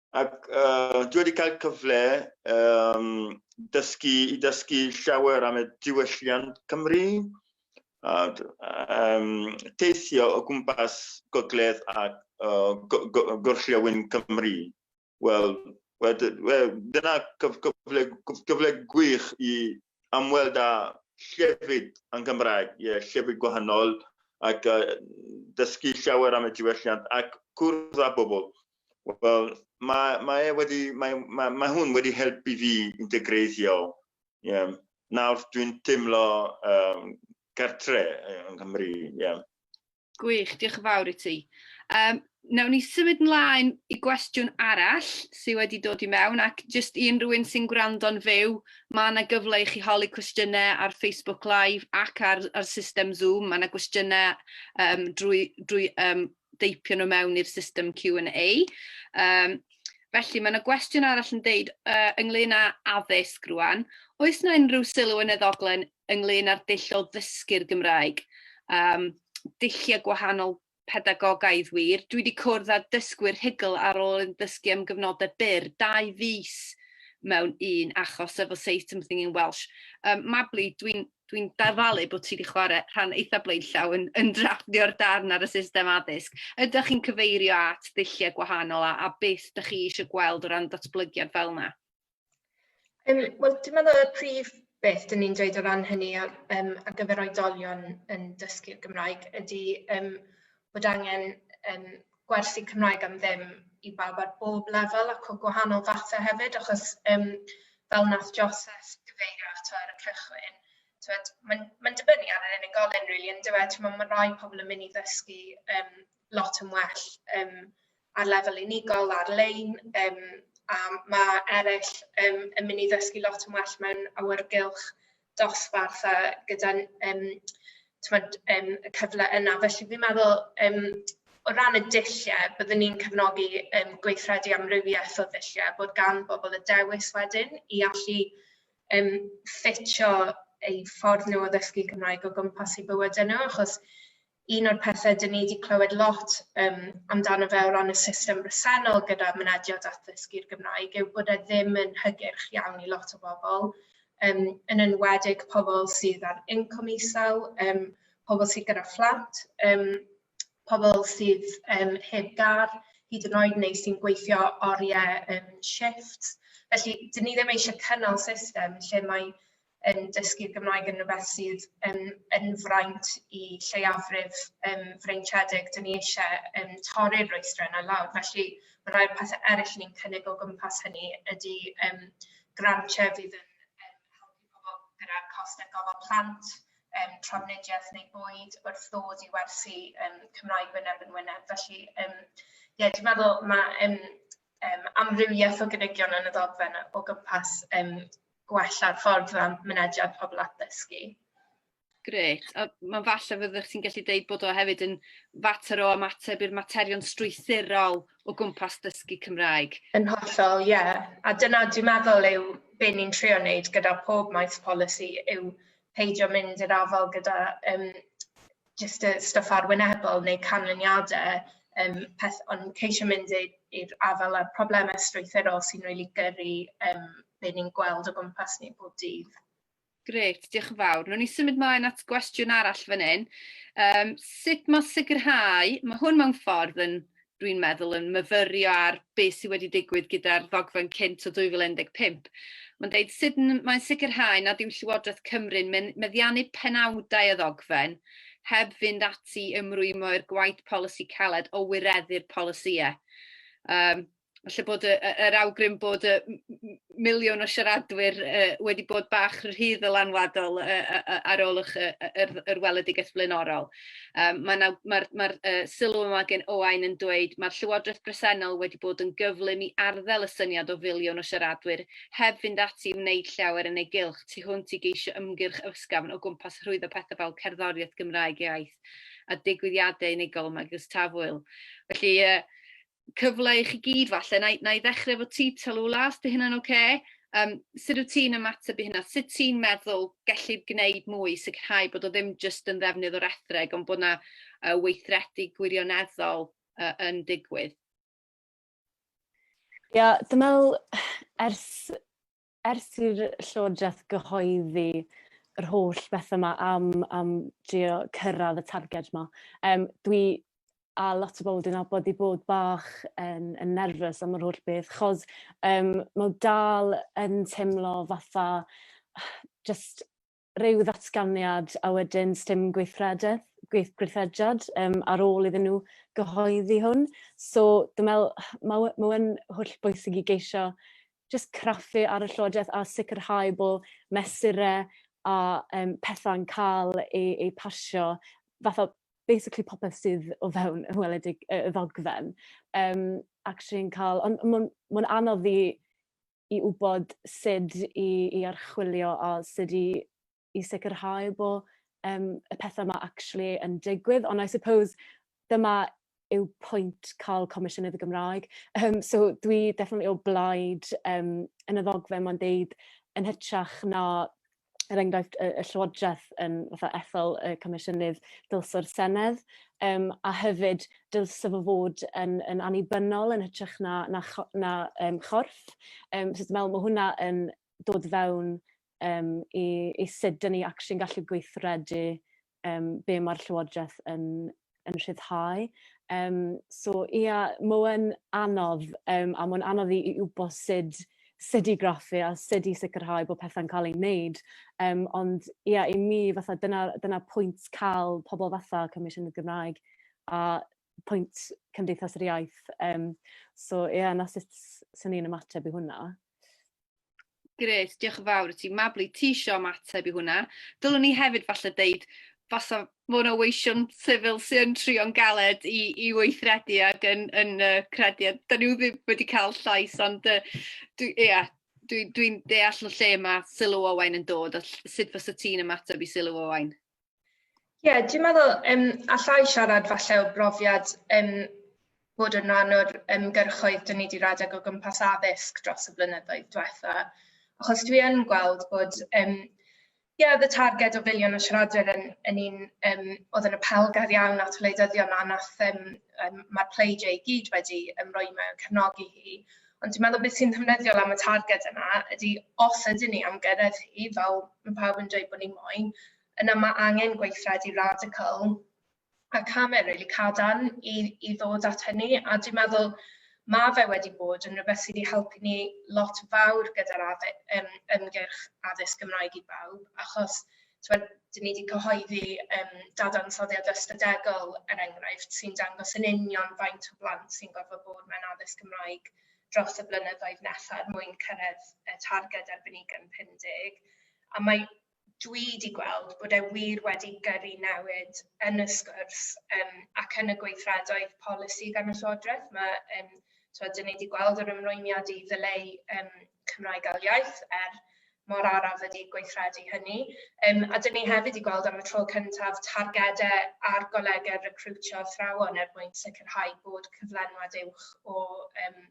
Ac uh, dwi wedi cael cyfle um, dysgu, i dysgu llawer am y diwylliant Cymru, a um, teithio o gwmpas gogledd a uh, gorllewin Cymru. Wel, wel, wel dyna cyfle, cyfle gwych i amweld â llefydd yn Gymraeg, ie, llefydd gwahanol, ac uh, dysgu llawer am y diwylliant ac cwrdd â bobl. Wel, mae, mae, e wedi, mae, mae, mae hwn wedi helpu fi integreiddio. Yeah. Nawr dwi'n teimlo um, gartre yng Nghymru. Yeah. Gwych, diolch yn fawr i ti. Um, Nawn ni symud ymlaen i gwestiwn arall sydd wedi dod i mewn ac jyst i unrhywun sy'n gwrando'n fyw, mae yna gyfle i chi holi cwestiynau ar Facebook Live ac ar, ar system Zoom. Mae yna gwestiynau um, drwy, drwy um, deipio nhw mewn i'r system Q&A. Um, felly, mae yna gwestiwn arall yn deud uh, ynglyn â addysg rwan. Oes yna unrhyw sylw yn y ddoglen ynglyn â'r dull o ddysgu'r Gymraeg? Um, dulliau gwahanol pedagogaidd wir. Dwi wedi cwrdd â dysgwyr rhugl ar ôl yn dysgu am gyfnodau byr, dau fus mewn un achos efo Say Something in Welsh. Um, Mabli, dwi'n dwi'n dyfalu bod ti wedi chwarae rhan eitha blaenllaw yn, yn drafftio'r darn ar y system addysg. Ydych chi'n cyfeirio at ddulliau gwahanol a, a beth ydych chi eisiau gweld o ran datblygiad fel yna? Um, Wel, dwi'n meddwl y prif beth dyn ni'n dweud o ran hynny ar, um, ar gyfer oedolion yn dysgu'r Gymraeg ydy um, bod angen um, gwersi Cymraeg am ddim i bawb ar bob lefel ac o gwahanol fathau hefyd achos yym fel wnaeth Joseph gyfeirio ato ar y cychwyn t'wod mae'n mae'n dibynnu ar yr unigolyn rili yndyw e t'mo' ma' rai pobl yn mynd i ddysgu yym lot yn well yym ar lefel unigol ar-lein yym a ma' eryll yym yn mynd i ddysgu lot yn well mewn awyrgylch dosbarth a gyda yym t'mod yym y cyfle yna felly fi'n meddwl yym o ran y dullie byddwn ni'n cefnogi yym gweithredu amrywiaeth o ddullie bod gan bobol y dewis wedyn i allu yym ffitio eu ffordd nhw o ddysgu Cymraeg o gwmpas i bywydau nhw achos un o'r pethe dyn ni wedi clywed lot um, amdano fe o ran y system bresennol gyda mynediad at ddysgu'r Gymraeg yw bod e ddim yn hygyrch iawn i lot o bobl, um, yn enwedig pobl sydd ar incwm isel, um, pobl sydd gyda phlant, um, pobl sydd um, heb gar, hyd yn oed neu sy'n gweithio oriau um, shifts. Felly, dyn ni ddim eisiau cynnal system lle mae yn dysgu'r Gymraeg yn rhywbeth sydd yn, yn fraint i lleiafrif um, freintiedig. Dyn ni eisiau um, torri'r rwystra yna lawr. Felly mae rhai'r pethau eraill ni'n cynnig o gwmpas hynny ydy um, grantiau fydd yn um, helpu pobl gyda'r costau gofal plant, um, trafnidiaeth neu bwyd wrth ddod i werthu um, Cymraeg wyneb yn wyneb. Felly, um, ie, yeah, dwi'n meddwl mae um, um, amrywiaeth o gynigion yn y ddogfen o gwmpas um, gwella ffordd o mynediad pobl at ddysgu. Grêt, a mae'n falle fyddwch ti'n gallu deud bod o hefyd yn fater o ymateb i'r materion strwythurol o gwmpas dysgu Cymraeg. Yn hollol, ie. Yeah. A dyna dwi'n meddwl yw be ni'n trio wneud gyda pob maes polisi yw peidio mynd i'r afael gyda um, jyst y stwff arwynebol neu canlyniadau, yym, peth... ond ceisio mynd i i'r afael â'r problemau strwythurol sy'n rili gyrru, yym, be ni'n gweld o gwmpas ni bob dydd. Grêt, diolch yn fawr. Rwy'n ni symud mlaen at gwestiwn arall fan hyn. Um, sut mae sicrhau, mae hwn mewn ffordd yn dwi'n meddwl, yn myfyrio ar beth sydd wedi digwydd gyda'r ddogfen cynt o 2015. Mae'n dweud sut mae'n sicrhau nad yw Llywodraeth Cymru'n meddiannu penawdau y ddogfen heb fynd ati i ymrwymo i'r gwaith polisi caled o wireddu'r polisïau. Um, Felly bod y, yr awgrym bod y miliwn o siaradwyr uh, wedi bod bach rhydd ddylanwadol uh, uh, ar ôl yr, yr, yr weledigaeth flaenorol. Yym mae 'na... mae'r mae'r yy sylw yma gen Owain yn dweud mae'r llywodraeth bresennol wedi bod yn gyflym i arddel y syniad o filiwn o siaradwyr heb fynd ati i wneud llawer yn ei gylch tu hwnt i geisio ymgyrch ysgafn o gwmpas rhwyddo pethau fel cerddoriaeth Gymraeg iaith a digwyddiadau unigol megis Tafwyl. Felly yy cyfle i chi gyd falle, na i, na i ddechrau efo ti Talula, os di hynna'n oce. Okay? Um, sut wyt ti'n ymateb i hynna? Sut ti'n meddwl gellid gwneud mwy i sicrhau bod o ddim jyst yn ddefnydd o'r ethreg, ond bod yna uh, weithredu gwirioneddol uh, yn digwydd? Ia, dwi'n meddwl ers Ers i'r Llywodraeth gyhoeddi yr holl bethau yma am, am drio cyrraedd y targed yma, um, dwi a lot o bobl dwi'n abod i bod bach yn, yn nerfus am yr holl beth, chos um, mae dal yn teimlo fatha just rhyw ddatganiad a wedyn sdim gweithrededd, gweith, gweithrediad um, ar ôl iddyn nhw gyhoeddi hwn. So dwi'n meddwl mae ma yn holl bwysig i geisio just craffu ar y llywodraeth a sicrhau bod mesurau a um, pethau'n cael ei, ei pasio fatha basically popeth sydd o fewn y weledig y ddogfen. Um, actually yn cael, ond mae'n ma anodd i i wybod sut i i archwilio a sut i i sicrhau bo' yym y pethe 'ma actually yn digwydd ond I suppose dyma yw pwynt ca'l Comisiynydd y Gymraeg yym so dwi definitely o blaid yym yn y ddogfen ma'n deud yn hytrach na er enghraifft y, y Llywodraeth yn fatha ethol y Comisiynydd Dylso'r Senedd, um, a hefyd dylse fo fod yn, yn annibynnol yn hytrach na, na, na um, chorff. Um, so dwi'n meddwl mae hwnna yn dod fewn um, i, i sut dyn ni actually'n gallu gweithredu um, be mae'r Llywodraeth yn, yn rhyddhau. Um, so ia, yeah, mae'n anodd, um, a mae'n anodd i, i wybod sut, sut i graffu a sut i sicrhau bod pethau'n cael ei wneud. Um, ond ia, yeah, i mi, fatha, dyna, dyna pwynt cael pobl fatha Comisiwn y Gymraeg a pwynt Cymdeithas yr Iaith. Um, so ia, yeah, na sut sy'n ni'n ymateb i hwnna. Grêt, diolch yn fawr i ti. Mabli, ti isio ymateb i hwnna. Dylwn ni hefyd falle deud, fasa mwy o weision sifil sy'n trio'n galed i, i weithredu ac yn, yn uh, credu. Da ni ddim wedi cael llais, ond uh, dwi, yeah, dwi'n dwi deall o lle mae sylw Owain yn dod, a sut fysa ti'n ymateb i sylw Owain? Ie, yeah, dwi'n meddwl um, allai siarad falle o brofiad um, bod yn rhan o'r ymgyrchoedd dyn ni wedi rhedeg o gwmpas addysg dros y blynyddoedd diwetha. Achos dwi yn gweld bod, um, yeah, the targed o filiwn o siaradwyr yn, yn un um, oedd yn apelgar iawn at wleidyddion a nath um, um, mae'r pleidie i gyd wedi ymroi mewn cefnogi hi. Ond dwi'n meddwl beth sy'n ddefnyddiol am y targed yna ydy os ydyn ni am gyrraedd hi, fel mae pawb yn dweud bod ni moyn, yna mae angen gweithredu radical a camau rili cadarn i, i ddod at hynny. A dwi'n meddwl mae fe wedi bod yn rhywbeth sydd wedi helpu ni lot fawr gyda'r um, ymgyrch addysg Gymraeg i bawb, achos tibod, dan ni 'di cyhoeddi yym dadansoddiad ystadegol, er enghraifft, sy'n dangos yn union faint o blant sy'n gorfod bod mewn addysg Gymraeg dros y blynyddoedd nesaf er mwyn cyrraedd y targed erbyn 2050. A mae... dwi 'di gweld bod e wir wedi gyrru newid yn y sgwrs yym ac yn y gweithredoedd polisi gan y llywodraeth. Mae yym... tibod, dan ni 'di gweld yr ymrwymiad i ddileu yym... Cymraeg ail iaith er mor araf ydy gweithredu hynny. Um, a dyn ni hefyd wedi gweld am y tro cyntaf targedau ar golegau recriwtio athrawon er mwyn sicrhau bod cyflenwad uwch o um,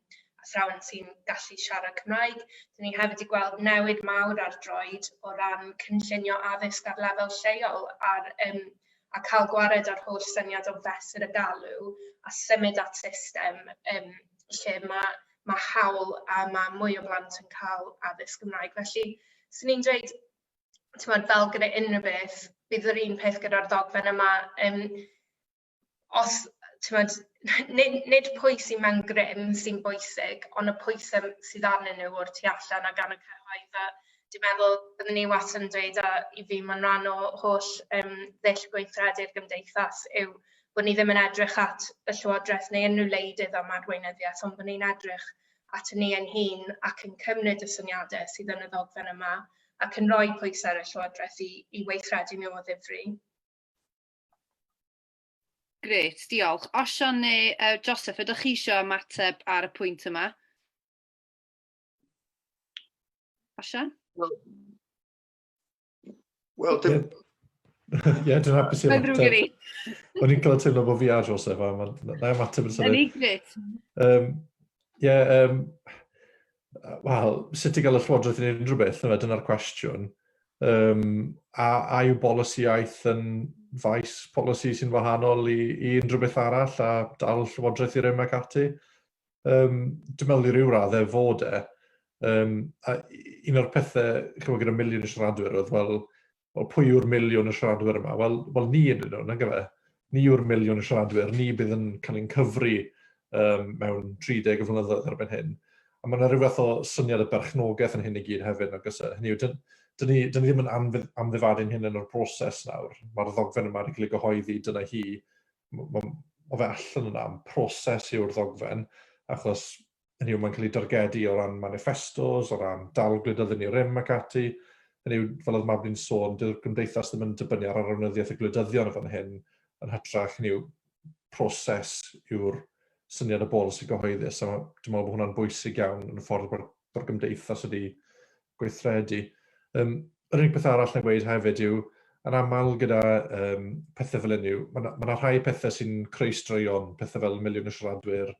athrawon sy'n gallu siarad Cymraeg. Dyn ni hefyd wedi gweld newid mawr ar droed o ran cynllunio addysg ar lefel lleol ar um, a cael gwared ar holl syniad o fesur y galw a symud at system um, lle mae mae hawl a mae mwy o blant yn cael addysg Gymraeg. Felly, swn i'n dweud, tymod, fel gyda unrhyw beth, bydd yr un peth gyda'r ddogfen yma. Um, os, tymod, nid, nid pwy sy'n mewn grym sy'n bwysig, ond y pwysau sydd arnyn nhw o'r tu allan a gan y cyhoedd. A dwi'n meddwl byddwn ni wastad yn dweud, a i fi mae'n rhan o holl um, ddull gweithredu'r gymdeithas, yw bod ni ddim yn edrych at y Llywodraeth neu unrhyw wleidydd am adweinyddiaeth, ond bod ni'n edrych at ni ein hun ac yn cymryd y syniadau sydd yn y ddogfen yma ac yn rhoi pwysau ar y Llywodraeth i, i weithredu nhw o ddifri. Gret, diolch. Osian neu uh, Joseph, ydych chi eisiau ymateb ar y pwynt yma? Osian? Well, Wel, dim... Ie, dwi'n hapus i Mae'n ddrwg i ni. O'n i'n cael teimlo bod fi a Joseph, a mae'n na ymateb yn symud. Yn gret. Um, Ie, um, wel, sut i gael y llywodraeth yn unrhyw beth, yna dyna'r cwestiwn. Um, a, a yw bolisi iaith yn faes polisi sy'n wahanol i, i unrhyw beth arall a dal llywodraeth i rym ac ati? um, dwi'n meddwl i ryw radd e fod e. Um, a un o'r pethau, chymod, gyda miliwn y siaradwyr oedd, wel, o pwy yw'r miliwn y siaradwyr yma? Wel, wel ni yn nhw, na gyfe. Ni yw'r miliwn y siaradwyr, ni bydd yn cael ein cyfri um, mewn 30 o flynyddoedd erbyn hyn. A mae yna rhywbeth o syniad y berchnogaeth yn hyn i gyd hefyd, nag oes e? Hynny yw, dyn, dyn, ni, dyn ni ddim yn amddifadu'n hyn yn o'r broses nawr. Mae'r ddogfen yma wedi cael ei gyhoeddi, dyna hi, mae o fe allan yna am proses yw'r ddogfen, achos yn yw mae'n cael ei dargedu o ran manifestos, o ran dal gwleidyddu ni rym ac ati, yn yw, fel oedd Mabni'n sôn, dyw'r gymdeithas ddim yn dibynnu ar arweinyddiaeth y gwleidyddion o fan hyn, yn hytrach yn yw proses yw'r syniad y bolisi gyhoeddus, a dwi'n meddwl bod hwnna'n bwysig iawn yn y ffordd bod, bod gymdeithas wedi gweithredu. Um, yr unig beth arall na gweud hefyd yw, yn aml gyda um, pethau fel hyn yw, mae yna ma rhai pethau sy'n creu straeon, pethau fel miliwn y siaradwyr,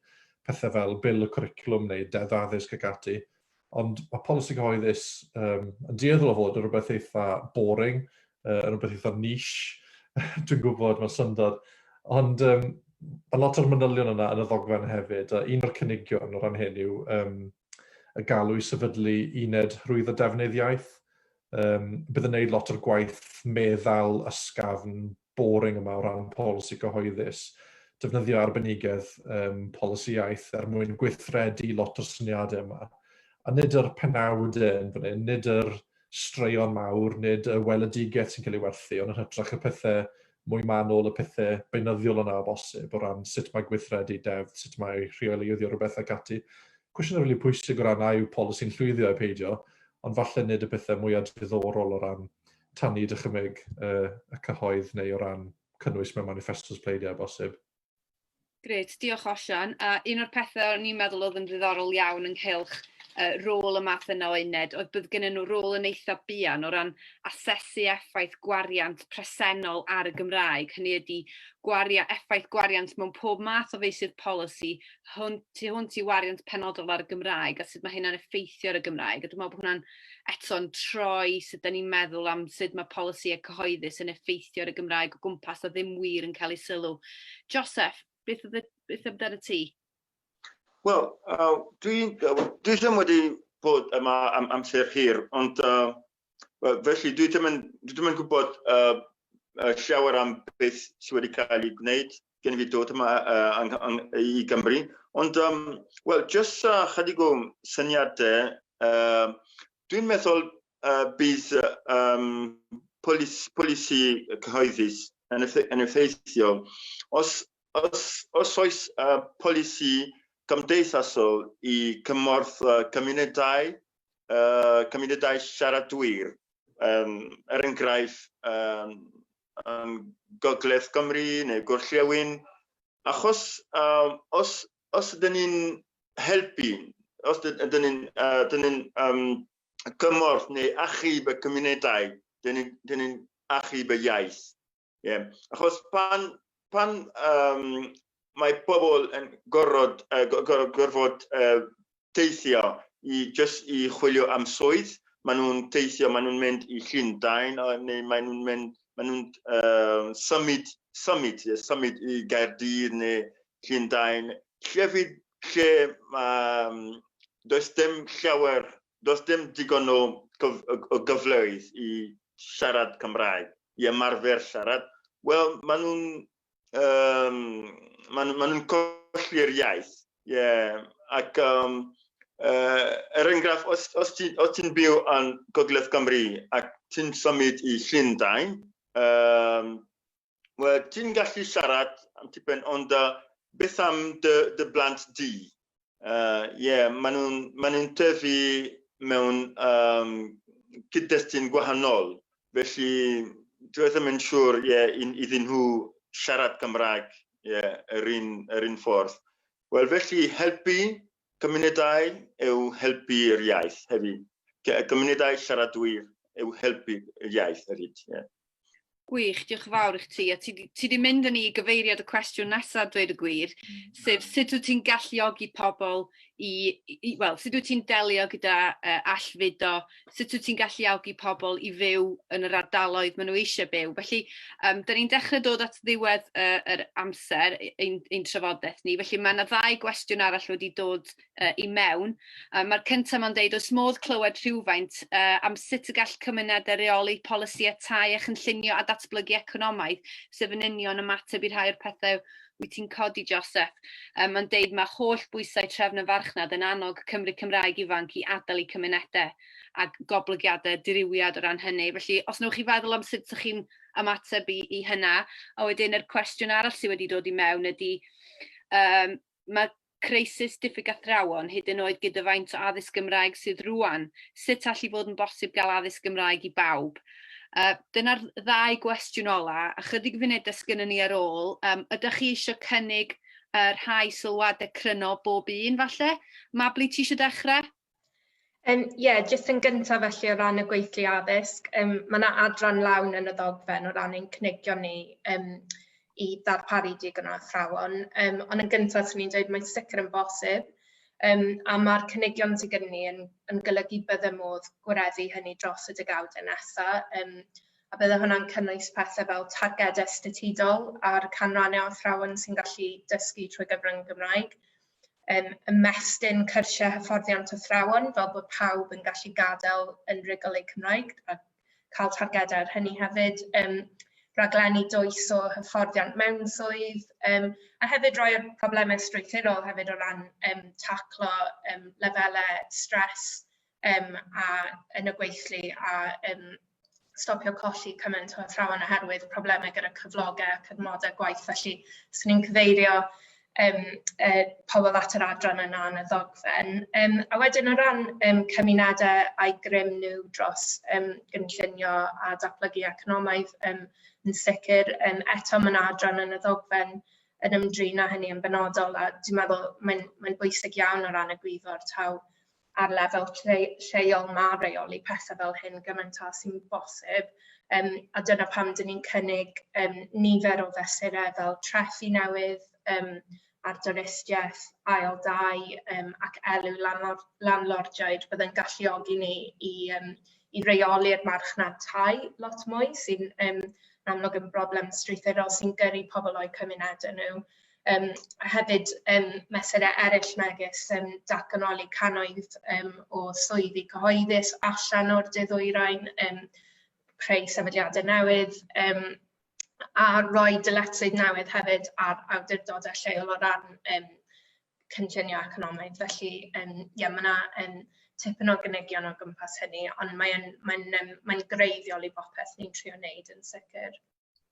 pethau fel bil y cwricwlwm neu deddf addysg ac ati, ond mae polisi cyhoeddus um, yn dueddol o fod yn rhywbeth eitha boring, uh, yn rhywbeth eitha niche, dwi'n gwybod mae'n syndod, ond um, mae lot o'r manylion yna yn y ddogfen hefyd, a un o'r cynigion o ran hyn yw um, y galw i sefydlu uned rhwyddo defnydd iaith. Um, bydd yn neud lot o'r gwaith meddal ysgafn boring yma o ran polisi cyhoeddus defnyddio arbenigedd um, polisi iaith er mwyn gweithredu lot o'r syniadau yma. A nid yr penawdau yn fan hyn, nid yr straeon mawr, nid y weledigaeth sy'n cael ei werthu, ond yn hytrach y pethe mwy manwl, y pethe beunyddiol yna o bosib, o ran sut mae gweithredu deddf, sut mae rheoleiddio rhywbeth ac ati. Cwestiynau rili pwysig o ran a yw polisi'n llwyddio ai peidio, ond falle nid y pethe mwya diddorol o ran tanu dychymyg y cyhoedd neu o ran cynnwys mewn maniffestos pleidiau o bosib. Grêt, diolch Osian. A un o'r pethau o'n i'n meddwl oedd yn ddiddorol iawn ynghylch uh, rôl y math yna o uned oedd bydd gynnyn nhw rôl yn eitha buan o ran asesu effaith gwariant presennol ar y Gymraeg. Hynny ydy gwaria, effaith gwariant mewn pob math o feisydd polisi hwn, tu hwnt i wariant penodol ar y Gymraeg a sut mae hynna'n effeithio ar y Gymraeg. A dwi'n meddwl bod hwnna'n eto'n troi sut dan ni'n meddwl am sut mae polisïau cyhoeddus yn effeithio ar y Gymraeg o gwmpas a ddim wir yn cael ei sylw. Joseph, beth oedd beth amdano ti? Wel, uh, dwi'n dwi ddim wedi bod yma am amser hir, ond uh, felly dwi ddim yn, dwi ddim yn gwybod uh, llawer am beth sydd wedi cael ei gwneud gen i fi dod yma uh, ang, ang, i Gymru. Ond, um, wel, jyst uh, chydig o syniadau, uh, dwi'n meddwl uh, bydd um, polisi, polisi cyhoeddus yn, effe, yn effeithiol. Os, os, os oes uh, polisi gymdeithasol i cymorth uh, cymunedau, uh, cymunedau siaradwyr, um, er enghraifft, um, yn Gogledd Cymru neu Gorllewin, achos um, os, os ydyn ni'n helpu, os ydyn ni'n uh, um, cymorth neu achub y cymunedau, dyn ni'n ni, ni achub y iaith. Yeah. Achos pan, pan um, mae pobl yn gorfod, uh, gorfod, gorfod uh, teithio i, just i chwilio am swydd. Maen nhw'n teithio, maen nhw'n mynd i Llundain, neu maen nhw'n mynd, maen nhw'n uh, symud, symud, yeah, symud i Gaerdydd neu Llundain. Llefydd lle um, does dim llawer, does dim digon o, gyf, o gyfleoedd i siarad Cymraeg, i ymarfer siarad. Wel, maen nhw'n um, maen nhw, ma nhw'n colli'r iaith. Yeah. Ac um, uh, er enghraifft, os, os ti'n ti byw yn Gogledd Cymru ac ti'n symud i Llundain, um, well, ti'n gallu siarad am tipyn, ond uh, beth am dy, dy blant di? Uh, yeah, maen nhw'n ma nhw tyfu mewn um, cyd-destun gwahanol. Felly, dwi ddim yn siŵr yeah, iddyn nhw siarad Cymraeg yeah, yr, un, yr un ffordd. Wel, felly helpu cymunedau yw helpu'r iaith hefyd. Cymunedau siaradwyr yw helpu'r iaith hefyd. Yeah. Gwych, diolch yn fawr i chdi. A ti, ti di mynd yn i gyfeiriad y cwestiwn nesaf, dweud y gwir, mm. sef sut wyt ti'n galluogi pobl i, i wel, sut wyt ti'n delio gyda uh, allfudo, sut wyt ti'n galluogi pobl i fyw yn yr ardaloedd maen nhw eisiau byw. Felly, um, da ni'n dechrau dod at ddiwedd uh, yr amser ein, ein trafodaeth ni, felly mae yna ddau gwestiwn arall wedi dod uh, i mewn. Uh, Mae'r cyntaf ma'n deud, oes modd clywed rhywfaint uh, am sut y gall cymunedau reoli polisi a tai a chynllunio a datblygu economaidd, sef yn union ymateb i rhai o'r pethau wyt ti'n codi, Joseph. Um, Mae'n deud mae holl bwysau trefn y farchnad yn annog Cymru Cymraeg ifanc i adael i cymunedau a goblygiadau diriwiad o ran hynny. Felly, os newch chi feddwl am sut ydych chi'n ymateb i, i hynna, a wedyn yr cwestiwn arall sydd wedi dod i mewn ydy, um, mae crisis diffyg athrawon, hyd yn oed gyda faint o addysg Gymraeg sydd rwan, sut all i fod yn bosib gael addysg Gymraeg i bawb? Uh, Dyna'r ddau gwestiwn ola, ychydig funudau sgynnon ni ar ôl. Um, ydych chi eisiau cynnig uh, rhai sylwadau cryno bob un falle? Mabli, ti eisiau dechrau? Yym ie jyst yn gyntaf felly o ran y gweithlu addysg yym ma' 'na adran lawn yn y ddogfen o ran ein cynigion ni yym i ddarparu digon o athrawon yym ond yn gyntaf 'swn i'n dweud mae'n sicr yn bosib yym a ma'r cynigion sy gyda ni yn yn golygu bydde modd gwareddu hynny dros y degawdau nesa yym a bydde hwnna'n cynnwys pethe fel targede statudol a'r canrannau o athrawon sy'n gallu dysgu trwy gyfrwng y Gymraeg. um, ymestyn cyrsiau hyfforddiant athrawon fel bod pawb yn gallu gadael yn rygol eu Cymraeg a cael targedau ar hynny hefyd. Um, raglenni dwys o hyfforddiant mewn swydd, um, a hefyd roi problemau strwythurol hefyd o ran um, taclo um, lefelau stres um, a yn y gweithlu a um, stopio colli cymaint o athrawon oherwydd problemau gyda cyflogau ac adnodau gwaith. Felly, swn ni'n cyfeirio um, uh, pobl at yr adran yna yn y ddogfen. Um, a wedyn o ran um, cymunedau a'i grym nhw dros um, gynllunio a datblygu economaidd, um, yn sicr, um, eto mae'n adran yn y ddogfen yn ymdrin â hynny yn benodol a dwi'n meddwl mae'n mae bwysig iawn o ran y gwyddor taw ar lefel lleol ma' reoli pethe fel hyn gymaint â sy'n bosib um, a dyna pam dyn ni'n cynnig um, nifer o fesurau fel trethi newydd um, ar dynistiaeth, ail dau um, ac elw landlord, landlordiaid byddai'n galluogi ni i, um, i reoli'r marchnad tai lot mwy sy'n um, amlwg yn broblem strwythurol sy'n gyrru pobl o'u cymunedau nhw. Yym, a hefyd yym, mesurau eraill megis yym, datganoli cannoedd yym, o swyddi cyhoeddus allan o'r De Ddwyrain, yym, creu sefydliadau newydd yym, a rhoi dyletswydd newydd hefyd ar awdurdodau lleol o ran yym, cynllunio economaidd. Felly yym, ie, mae yna yym, tipyn o gynigion o gwmpas hynny, ond mae'n mae mae greiddiol i bopeth ni'n trio wneud yn sicr.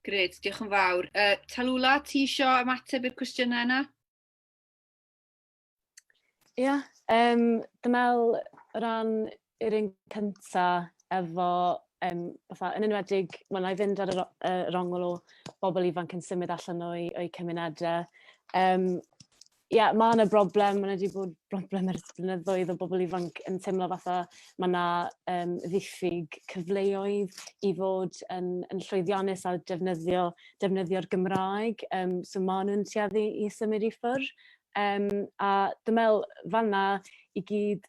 Gred, diolch yn fawr. Uh, Talula, ti isio ymateb i'r cwestiynau yna? Ie, yeah, um, dwi'n meddwl ran yr un cynta efo, um, fatha, yn enwedig, mae'n ei fynd ar y uh, rongl o bobl ifanc yn symud allan o'i, o'i cymunedau. Um, Ie, mae yna broblem, mae yna wedi bod broblem ers blynyddoedd o bobl ifanc yn teimlo fatha mae yna um, ddiffyg cyfleoedd i fod yn, yn llwyddiannus a defnyddio, defnyddio'r Gymraeg, um, so mae nhw'n tueddu i symud i ffwrdd. Um, a dwi'n meddwl fanna i gyd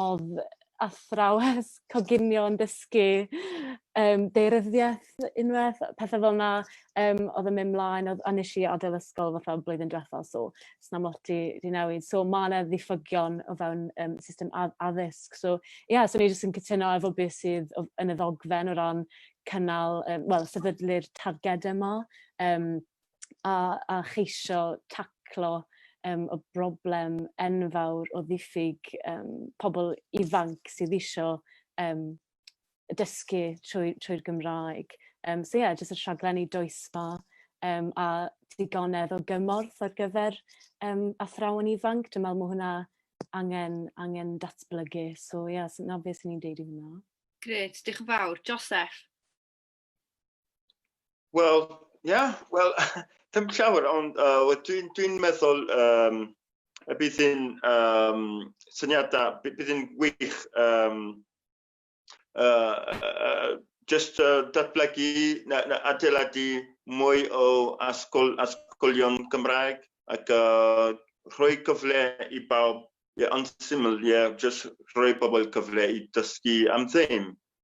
O'dd athrawes coginio yn dysgu yym daearyddieth unwaith yy pethe fel 'na yym odd yn myn' mlaen odd a nesh i adel ysgol fatha blwyddyn dwetha so sna'm lot 'di 'di newid so ma' 'na ddiffygion o fewn yym system add- addysg so ie so o'n i jyst yn cytuno efo be' sydd o- yn y ddogfen o ran cynnal yym wel sefydlu'r targede 'ma yym a a cheisio taclo yym y broblem enfawr o ddiffyg yym pobol ifanc sydd isio yym dysgu trwy trwy'r Gymraeg. Yym so ie jyst y rhaglenni dwys 'ma yym a digonedd o gymorth ar gyfer yym athrawon ifanc dwi me'wl ma' hwnna angen angen datblygu so ie so 'na be' swn i'n deud i hwnna. Grêt, dioch yn fawr. Joseph? Wel, ia, yeah, wel, dim llawer, ond uh, dwi'n dwi meddwl um, y bydd yn um, syniadau, bydd yn wych um, uh, uh, just uh, datblygu na, na adeiladu mwy o asgol, asgolion Gymraeg ac uh, rhoi gyfle i bawb, ie, yeah, yn syml, ie, yeah, just rhoi pobl cyfle i dysgu am ddim.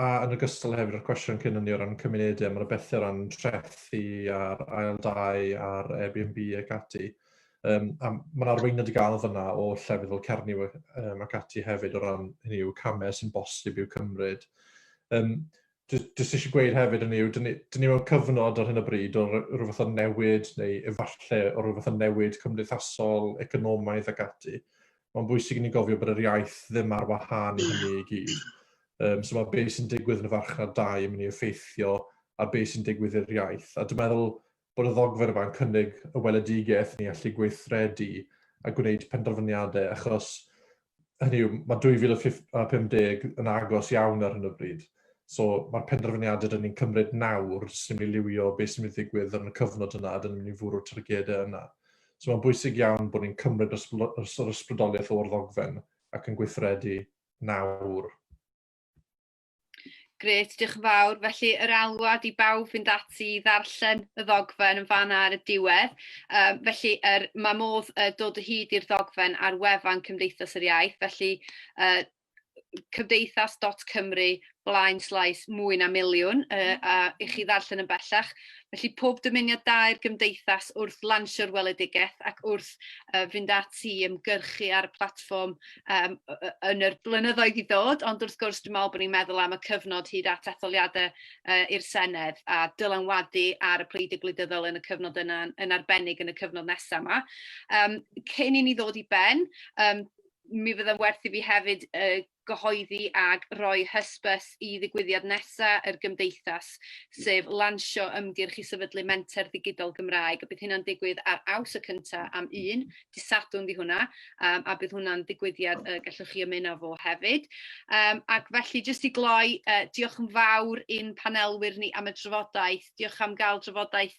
a yn ogystal hefyd o'r cwestiwn cyn hynny o ran cymunedau, mae'n bethau o ran trethi a'r ail dau a'r Airbnb ac ati. Um, a mae'n arweiniad i gael fyna o llefydd fel Cernyw um, ac ati hefyd o ran hynny yw camau sy'n bosib i'w cymryd. Um, Jyst eisiau gweud hefyd yn yw, dyn ni, dyn ni mewn cyfnod ar hyn o bryd o rhywbeth o'n newid, neu efallai o rhywbeth o'n newid cymdeithasol, economaidd ac ati. mae'n bwysig i ni gofio bod yr iaith ddim ar wahân i hynny i gyd. Um, so mae beth sy'n digwydd yn y farchnad dau yn mynd i effeithio ar beth sy'n digwydd i'r iaith. A dwi'n meddwl bod y ddogfer yma'n cynnig y weledigaeth ni allu gweithredu a gwneud penderfyniadau, achos hynny yw, mae 2050 yn agos iawn ar hyn o bryd. So mae'r penderfyniadau dyn ni'n cymryd nawr sy'n mynd i liwio beth sy'n mynd i ddigwydd yn y cyfnod yna a dyn ni'n mynd i fwrw'r targedau yna. So mae'n bwysig iawn bod ni'n cymryd yr ysbrydoliaeth o'r ddogfen ac yn gweithredu nawr. Gret, diolch yn fawr. Felly yr alwad i bawb fynd ati i ddarllen y ddogfen yn fan ar y diwedd. Um, felly er, mae modd uh, dod o hyd i'r ddogfen ar wefan Cymdeithas yr Iaith, felly uh, cymdeithas.cymru blaen slaes mwy na miliwn uh, a i chi ddarllen yn bellach. Felly pob dymuniad dair gymdeithas wrth lansio'r weledigaeth ac wrth uh, fynd ati i ymgyrchu ar y platfform um, yn yr blynyddoedd i ddod, ond wrth gwrs dwi'n meddwl bod ni'n meddwl am y cyfnod hyd at etholiadau uh, i'r Senedd a dylanwadu ar y pleidiau gwleidyddol yn y cyfnod yna yn arbennig yn y cyfnod nesaf yma. Um, cyn i ni ddod i ben, um, mi fydda'n werth i fi hefyd yy gyhoeddi ag roi hysbys i ddigwyddiad nesa yr Gymdeithas sef lansio ymgyrch i sefydlu Menter Ddigidol Gymraeg a bydd hynna'n digwydd ar Awst y cynta am un, dy' Sadwrn 'di hwnna yym a bydd hwnna'n ddigwyddiad y gellwch chi ymuno fo hefyd yym ac felly jyst i gloi yy diolch yn fawr i'n panelwyr ni am y drafodaeth, diolch am ga'l drafodaeth